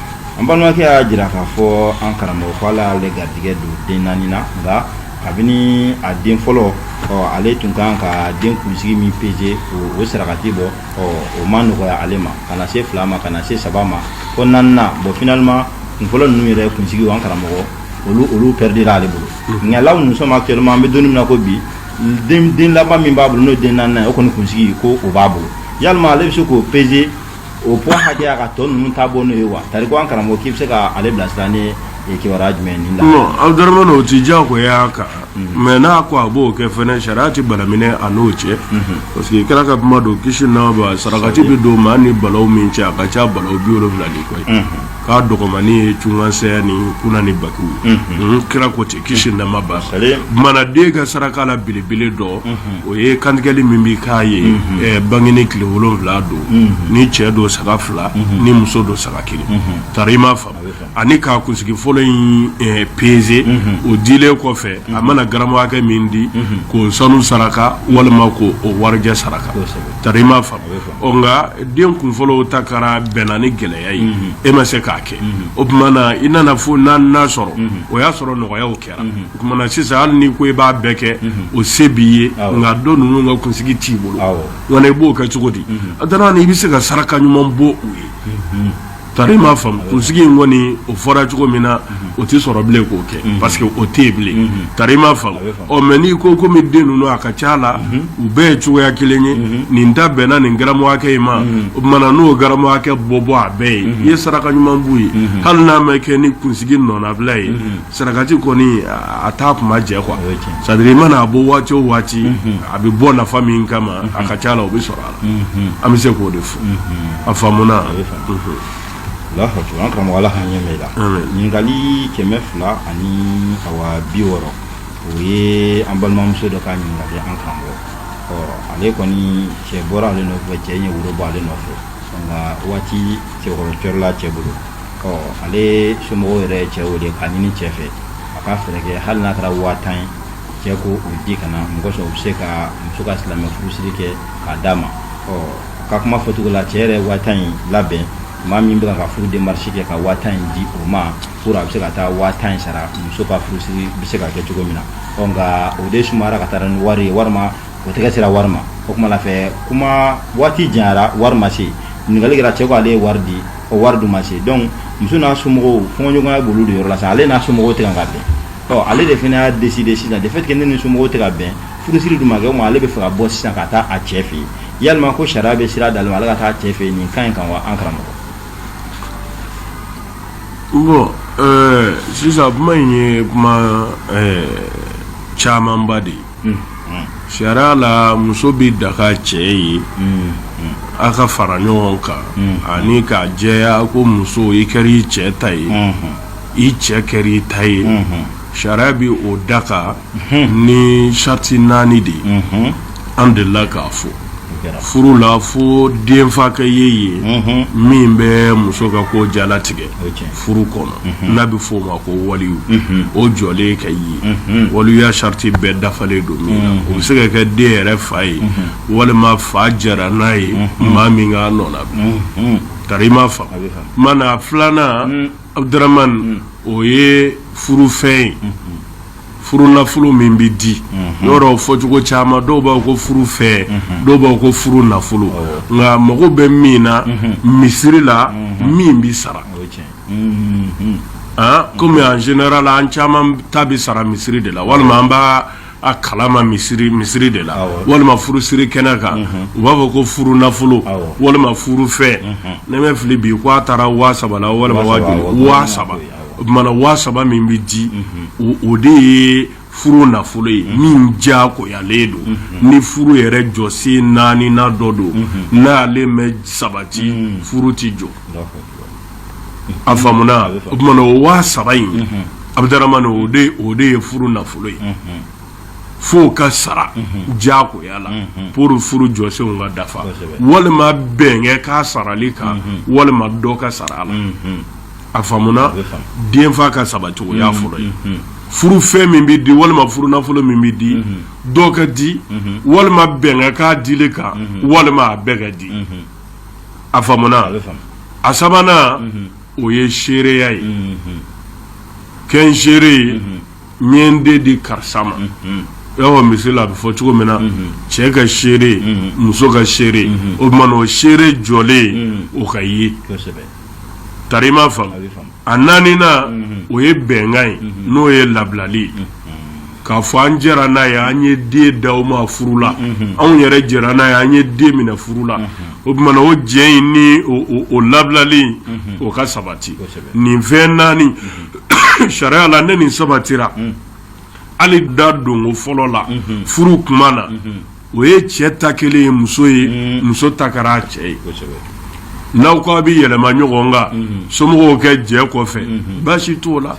an balimakɛ y'a jira k'a fɔ an karamɔgɔ ko ala y'ale garijɛgɛ don den naani na nka kabini a den fɔlɔ ale tun kan ka den kunsigi min peze o sarakati bɔ o ma nɔgɔya ale ma ka na se fila ma ka na se saba ma fo naaninan bon finalement kunfɔlɔ ninnu yɛrɛ kunsigi an karamɔgɔ olu olu perdira ale bolo nka là où nous sommes actuellement an bɛ don min na ko bi den laban min b'a bolo n'o den naaninan o kɔni kunsigi ko o b'a bolo yalima ale bɛ se k'o peze o poids hakɛya ka tɔ ninnu ta bɔ n'o ye wa tari ko an karamɔgɔ k'i bɛ se ka ale bilasira ni eh, kibaruya jumɛn ni la non abudurahman o ti diyagoya kan mhm. mais n'a ko a b'o kɛ fɛnɛ sariya ti balaminɛ a n'o cɛ mhm. parce que kira ka kuma don kisi nɛɛma b'a sarakati bɛ don maa ni balaw min cɛ a ka ca balaw biwolonwula ni kɔ ye mhm. k'a dɔgɔmani ye cunkansaya ni kuna ni bagi ye kira ko ten kisi nɛɛma b'a kan Salim. o tuma na den ka saraka la belebele dɔ o ye kantigɛli min bɛ k'a ye eh, bangeni tile wolonwula don ni cɛ don saga fila ni muso don saga kelen tari i m'a faamu ani k'a kunsigi fɔlɔ in eh, peze o dilen kɔfɛ a mana garamu hakɛ min di k'o sanu saraka walima k'o warijɛ saraka tari i m'a faamu ɔ nka den kunfɔlɔw ta kɛra bɛnna ni gɛlɛya ye e ma se k'a kɛ o tuma na i nana fo naaninan sɔrɔ o y'a sɔrɔ nɔgɔyaw kɛra o tuma na sisan hali ni ko i b'a bɛɛ kɛ o se b'i ye nka tɔ ninnu ka kunsigi t'i bolo wa i b'o kɛ cogo di a dan na i bɛ se ka saraka ɲuman bɔ u ye Tari i m'a faamu kunsigi in kɔni o fɔra cogo min na o tɛ sɔrɔ bilen k'o kɛ parce que o tɛ yen bilen tari i m'a faamu ɔ mais n'i ko komi den ninnu a ka ca la u bɛɛ ye cogoya kelen ye nin ta bɛnna nin garamu hakɛ in ma o tuma na n'o garamu hakɛ bɔ bɔ a bɛɛ ye i ye saraka ɲuman b'u ye hali n'a ma kɛ ni kunsigi nɔnabila ye sarakati kɔni a t'a tuma jɛ quoi c'est à dire i mana a bɔ waati o waati a bɛ bɔ nafa min kama a ka ca la o bɛ sɔrɔ a la an bɛ se k'o de fɔ a faamuna an karamɔgɔ ala k'a ɲɛ ɲininkali kɛmɛ fila ani bi wɔɔrɔ o ye an balimamuso dɔ ka ɲininkali an karamɔgɔ ale kɔni cɛ bɔra ale nɔfɛ cɛ ye woro bɔ ale nɔfɛ nka waati tɛgɛkɔrɔ cɔrɔla cɛ bolo ale somɔgɔw yɛrɛ cɛ wele k'a ɲini cɛ fɛ a ka fɛɛrɛ kɛ hali n'a kɛra waa tan ye cɛ k'o di ka na mun kosɔn u bɛ se ka muso ka silamɛ furusiri kɛ k'a d'a ma ɔ ka kuma fɔcogo la cɛ yɛrɛ waa tan in labɛn maa min bɛ ka furu démarche kɛ ka waa tan in di o ma pour a bɛ se ka taa waa tan in sara muso ka furusiri bɛ se ka kɛ cogo min na ɔ nka o de sumayara ka taa ni wari ye walima o tɛgɛ sera wari ma o kuma la fɛ kuma waati janyara wari ma se ɲininkali kɛra cɛ ko ale ye wari di o wari dun ma se donc muso n'a somɔgɔw fɔɲɔgɔnya b'olu de yɔrɔ la sa ale n'a somɔgɔw tɛ ka bɛn ɔ ale de fana y'a décider sisan de fait que ne ni somɔgɔw tɛ ka bɛn furusiri dun ma kɛ mais ale bɛ fɛ ka bɔ sisan ka taa a cɛ fɛ yen yalima ko sariya bɛ sira d'ale ma ale ka taa cɛ fɛ yen nin kan in kan wa an karamɔgɔ bon sisan kuma in ye kuma camanba de ye sariya la muso bɛ daga cɛ ye a ka fara ɲɔgɔn kan ani k'a jɛya ko muso i kɛra i cɛ ta ye i cɛ kɛra i ta ye sariya bɛ o daga ni sariti naani de ye an delila k'a fɔ furu la fo denfa ka ye ye min bɛ muso ka ko jalatigɛ furu kɔnɔ n'a bɛ f'o ma ko waliyu o jɔlen ka ye waliya sariti bɛɛ dafalen don min na o bɛ se ka kɛ den yɛrɛ fa ye walima fa jara n'a ye maa min k'a nɔ na ka i ma fa ma na filanan abuduramani o ye furufɛn ye furu nafolo min bɛ di yɔrɔ fɔcogo caman dɔw b'a ko furufɛn dɔw b'a ko furu nafolo nka mago bɛ min na misiri la min bɛ sara kɔmi en général an caman ta bɛ sara misiri de la walima an b'a kalama misiri misiri de la walima furusiri kɛnɛ kan u b'a fɔ ko furu nafolo walima furufɛn ni n ma fili bi ko a taara waa saba la walima waa saba o tuma na waa saba min bɛ di o de ye furu nafolo ye min jagoyalen don ni furu yɛrɛ jɔsen naani na dɔ don n'ale ma sabati furu tɛ jɔ a faamuna o tuma na o waa saba in abuduramani o de ye furu nafolo ye fo ka sara jagoya la pour furu jɔsenw ka dafa walima bɛnkɛ ka sarali kan walima dɔ ka sara a la a faamuna denfa ka sabati o y'a fɔlɔ ye furu fɛn min bɛ di walima furu nafolo min bɛ di dɔ ka di walima bɛn ka kɛ a dili kan walima a bɛɛ ka di a faamuna a sabanan o ye seereya ye kɛ n seere ye n ye n den di karisa ma awɔ misiri la a bɛ fɔ cogo min na cɛ ka seere muso ka seere o tuma na o seere jɔlen o ka ye ta ma a naaninan o ye bɛnkan ye n'o ye labilali ye k'a fɔ an jɛra n'a ye an ye den d'aw ma furu la anw yɛrɛ jɛra n'a ye an ye den minɛ furu la o tuma na o jɛ in ni o labilali o ka sabati nin fɛn naani sariya la ne nin sabatira hali da donko fɔlɔ la furu kuma na o ye cɛ ta kelen ye muso ye mm. muso ta kɛra a cɛ ye n'aw ko a bɛ yɛlɛma ɲɔgɔn kan mm-hmm. somɔgɔw kɛ jɛ kɔfɛ mm-hmm. baasi t'o la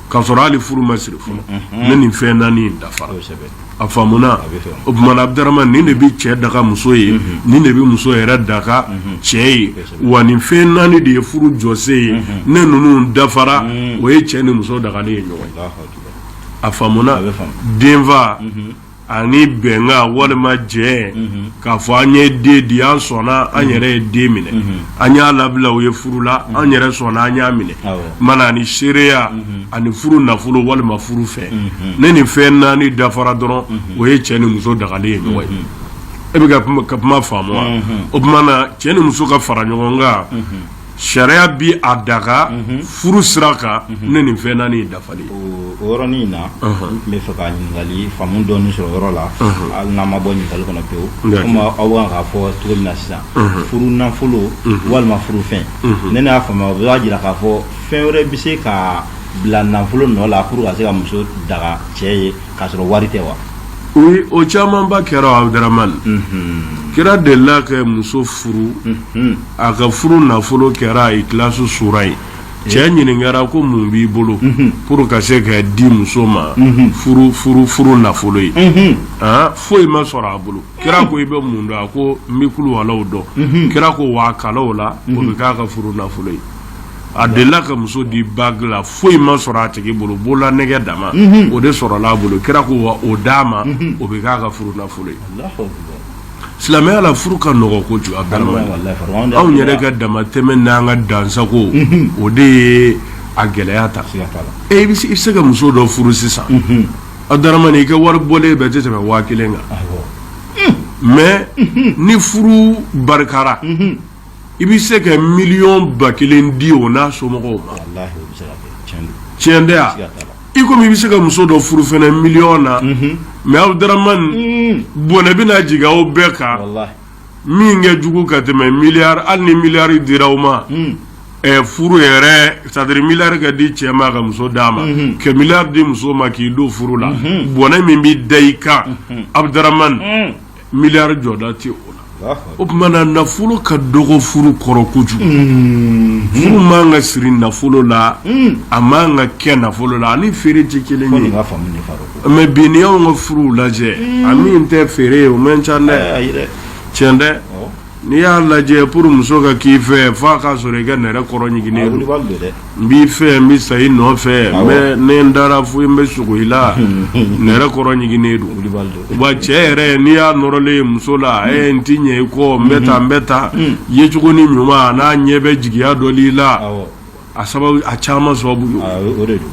ka sɔrɔ hali furu ma siri fɔlɔ mm-hmm. ne nin fɛn naani in dafara a faamuna o tumana abdarama nin de bɛ cɛ daga muso ye nin de bɛ muso yɛrɛ daga cɛ ye wa nin fɛn naani de ye furu jɔsen ye ne ninnu dafara mm. o ye cɛ ni muso dagalen ye ɲɔgɔn ye a faamuna denfa ani bɛnkan walima jɛ k'a fɔ an ye den di an sɔnna an yɛrɛ ye den minɛ an y'a labila aw ye furu la an yɛrɛ sɔnna an y'a minɛ mana ani seereya ani furu nafolo walima furu fɛn ne nin fɛn naani dafara dɔrɔn o ye cɛ ni muso dagalen ye ɲɔgɔn ye e bɛ ka kuma faamu wa o tuma na cɛ ni muso ka fara ɲɔgɔn kan sariya bɛ a daga furu sira kan ne nin fɛn naani dafalen o yɔrɔnin in na n bɛ fɛ ka ɲininkali faamu dɔɔni sɔrɔ yɔrɔ la hali n'an ma bɔ ɲininkali kɔnɔ pewu aw bɛ k'a fɔ cogo min na sisan furu nafolo walima furu fɛn ne y'a faamuya o b'a jira k'a fɔ fɛn wɛrɛ bɛ se ka bila nafolo nɔ la pour ka se ka muso daga cɛ ye k'a sɔrɔ wari tɛ wa o camanba kɛra abdarama kira delila ka muso furu a ka furu nafolo kɛra Ikhlasu suura ye cɛ ɲininkara ko mun b'i bolo pour ka se ka di muso ma furu nafolo ye aa foyi ma sɔrɔ a bolo kira ko i bɛ mun dɔn a ko n bɛ kuluwalaw dɔn kira ko wa kalan o la o bɛ k'a ka furu nafolo ye a delila ka muso di bague la foyi ma sɔrɔ a tigi bolo bolola nɛgɛ dama o de sɔrɔla a bolo kira ko wa o d'a ma o bɛ k'a ka furu nafolo ye Silamɛya la furu ka nɔgɔ kojugu abdarama anw yɛrɛ ka damatɛmɛ ni an ka dansago o de ye a gɛlɛya ta e bɛ se ka muso dɔ furu sisan abdarama i ka wari bɔlen bɛɛ tɛ tɛmɛ waa kelen kan mɛ ni furu barikayara i bɛ se ka miliyɔn ba kelen di o n'a somɔgɔw ma tiɲɛ tɛ wa i komi i bɛ se ka muso dɔ furu fana miliyɔn na mais Abdurahman bɔnɛ bɛna jigin aw bɛɛ kan min ka jugu ka tɛmɛ miliyari hali ni miliyari dira aw ma furu yɛrɛ c'est-à-dire miliyari ka di cɛ ma ka muso d'a ma ka miliyari di muso ma k'i don furu la bɔnɛ min bɛ da i kan Abdurahman Miliyari jɔda tɛ o la o tuma na nafolo ka dɔgɔ furu kɔrɔ kojugu furu man ka siri nafolo la a man ka kɛ nafolo la ani feere tɛ kelen ye mais bi n'i y'anw ka furuw lajɛ a min tɛ feere ye o man ca dɛ tiɲɛ dɛ N'i y'a lajɛ pour muso ka k'i fɛ fo a ka sɔrɔ i ka nɛrɛ kɔrɔ ɲiginnen don, a wulibali don dɛ, n b'i fɛ n bɛ sa i nɔfɛ, awɔ, n bɛ ni n dara fo n bɛ sugo i la, nɛrɛ kɔrɔ ɲiginnen don, wulibali don, wa cɛ yɛrɛ n'i y'a nɔrɔlen ye muso la, un, ee n tɛ ɲɛ i kɔ, n bɛ tan n bɛ tan, un, yecogo ni ɲuman a n'a ɲɛ bɛ jigiya dɔ la i la, awɔ a sababu a caman sababu ye ah, o de don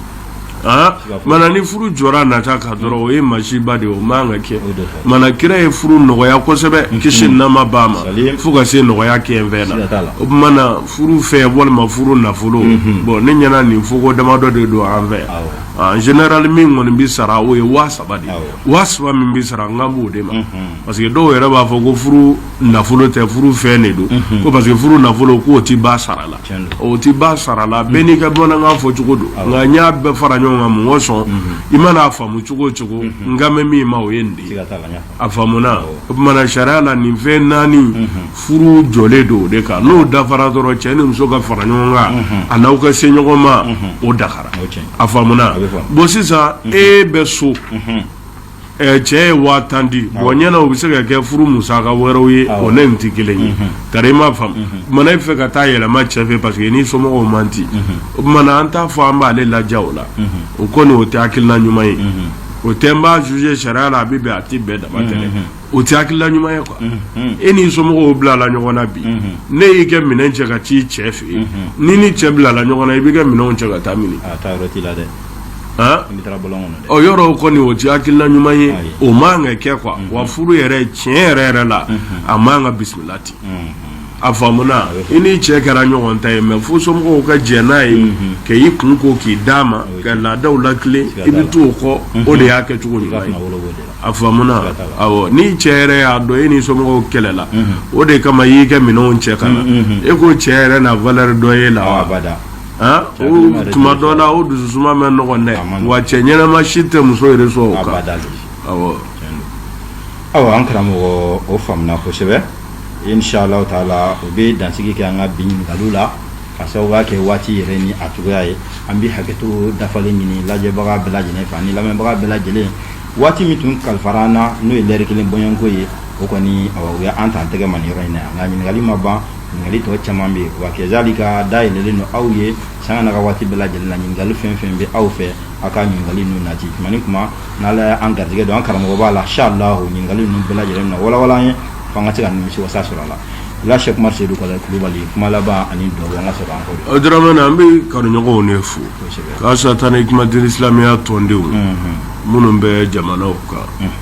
ah, mana ni furu jɔra nata kan dɔrɔn o ye masiba de ye o man ka kɛ mana kira ye furu nɔgɔya kosɛbɛ mhm. kisi nɛɛma b'a ma fo ka se nɔgɔya kɛ n fɛn na o tuma na furu fɛn walima furu nafolo mhm. bon ne ɲɛna nin fɔko damadɔ de don an fɛ ah, en général min kɔni bɛ sara o ye waa saba de ye waa saba min bɛ sara n kan b'o de ma mhm. parce que dɔw yɛrɛ b'a fɔ ko furu nafolo tɛ furu fɛn de don ko parce que furu nafolo k'o tɛ ba sara la o tɛ ba sara la bɛɛ n'i ka bamanankan fɔ cogo don nka n y'a bɛɛ fara ɲɔgɔn kan mɔgɔ sɔn i mana a faamu cogo o cogo n kan bɛ min ma o ye nin de ye a faamuna o tumana sariya la nin fɛn naani furu jɔlen don o de kan n'o dafara dɔrɔn cɛ ni muso ka fara ɲɔgɔn kan a n'aw ka se ɲɔgɔn ma o dagara a faamuna bon sisan e bɛ so Ɛɛ cɛ ye waa tan di bon n ɲɛna o bɛ se ka kɛ furu musaka wɛrɛw ye o ni nin tɛ kelen ye ka i m'a faamu e fɛ ka taa yɛlɛma cɛ fɛ parce que n'i somɔgɔw man di o tuma an t'a fɔ an b'ale laja o la o kɔni o tɛ hakilina ɲuman ye o tɛ n b'a juger sariya la a bɛ bɛn a tɛ bɛn dama tɛ o tɛ hakilina ɲuman ye quoi e n'i somɔgɔw bilala ɲɔgɔn na bi n'i y'i ka minɛn cɛ ka t'i cɛ fɛ yen n'i ni cɛ bilala ɲɔgɔn na i b'i ka minɛn cɛ ka taa min yɔrɔ kɔni o tɛ hakilina ɲuman ye o man ka kɛ quoi wa furu yɛrɛ tiɲɛ yɛrɛ yɛrɛ la a man ka bisimila ten a faamuna i ni cɛ kɛra ɲɔgɔn ta ye mais fo somɔgɔw ka jɛn n'a ye k'i kun ko k'i d'a ma ka laadaw latilen i bɛ t'o kɔ o de y'a kɛcogo ɲuman ye a faamuna ni cɛ yɛrɛ y'a dɔn e n'i somɔgɔw kɛlɛla o de kama i y'i ka minɛnw cɛ ka na e ko cɛ yɛrɛ na valeur dɔ y'e la tuma dɔ la o dususuma man nɔgɔn dɛ wa cɛ ɲɛnama si tɛ muso yɛrɛ sɔn o kan awɔ an karamɔgɔ o faamuna kosɛbɛ inshallah taala o bɛ dansigi kɛ an ka bi ɲininkaliw la ka sababuya kɛ waati yɛrɛ ni a cogoya ye an bɛ hakɛto dafalen ɲini lajɛbaga bɛɛ lajɛlen fɛ ani lamɛnbaga bɛɛ lajɛlen waati min tun kalifara an na n'o ye lɛri kelen bɔɲɔgɔnko ye o kɔni o ye an t'an tɛgɛ ma nin yɔrɔ in na yan nka ɲininkali ma ban ɲininkali tɔ caman bɛ yen wa kɛzalika da yɛlɛlen don aw ye sanga n'a ka waati bɛɛ lajɛlen na ɲininkali fɛn fɛn bɛ aw fɛ aw ka ɲininkali ninnu nati tuma ni tuma n'ala ye an garijɛgɛ don an karamɔgɔba la inshallah ɲininkali ninnu bɛɛ lajɛlen na walawala an ye fo an ka se ka nimisi wasa sɔrɔ a la la sɛki umar sedu kɔlɛ kulubali kuma laban ani dugawu an ka sɔrɔ an kɔ daramani an bɛ kanuɲɔgɔnw ne fo kasatan hikmatul islamiya tɔndenw minnu bɛ jamanaw kan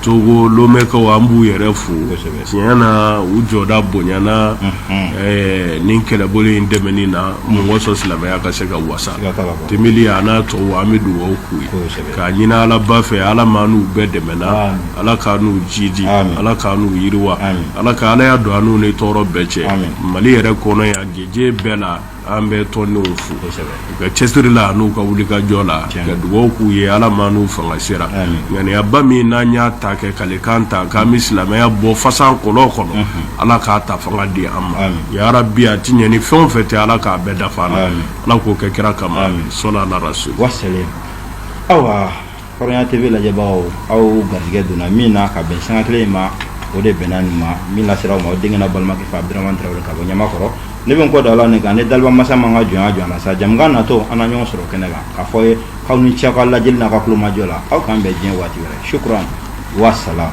togo lomɛkaw an b'u yɛrɛ fo tiɲɛ na u jɔda bonyana nin kɛlɛbolo in dɛmɛni na mɔgɔ sɔrɔ silamɛya ka se ka wasa tembeli a n'a tɔw an bɛ dugawu k'u ye k'a ɲinin alaba fɛ ala m'an n'u bɛɛ dɛmɛna ala k'an n'u jidi ala k'an n'u yiriwa ala ka ala y'a don an n'u ni tɔɔrɔ bɛɛ cɛ mali yɛrɛ kɔnɔ yan gese bɛɛ la an bɛ tɔndenw fo u ka cɛsiri la n'u ka wulikajɔ la ka dugawu k'u ye ala m'an n'u fanga sera ŋaniyaba min n'an y'a ta kɛ kalikan ta k'an bɛ silamɛya bɔ fasa kɔlɔn kɔnɔ ala k'a ta fanga di an ma ya rabi a tɛ ɲɛ ni fɛn o fɛn tɛ ala k'a bɛɛ dafa an na ala k'o kɛ kira kama sɔli ala rasul ayiwa Hɔrɔnya TV lajɛbagaw aw garijɛgɛ donna min na ka bɛn sanga kelen in ma, o de bɛnna nin ma, min lasera aw ma aw denkɛ n'aw balimakɛ fɛ Abudramani Tarawele ka bɔ Ɲamakɔrɔ. Ne bɛ n kɔ da Ala ne kan ni daliba masa m'an ka jɔnya jɔ an na sa, jɛmukan natɔ an na ɲɔgɔn sɔrɔ kɛnɛ kan, k'a fɔ aw ye k'aw ni ce aw ka lajɛli n'aw ka tulomajɔ la, aw k'an bɛn diɲɛ waati wɛrɛ. Shukuran wa salaam.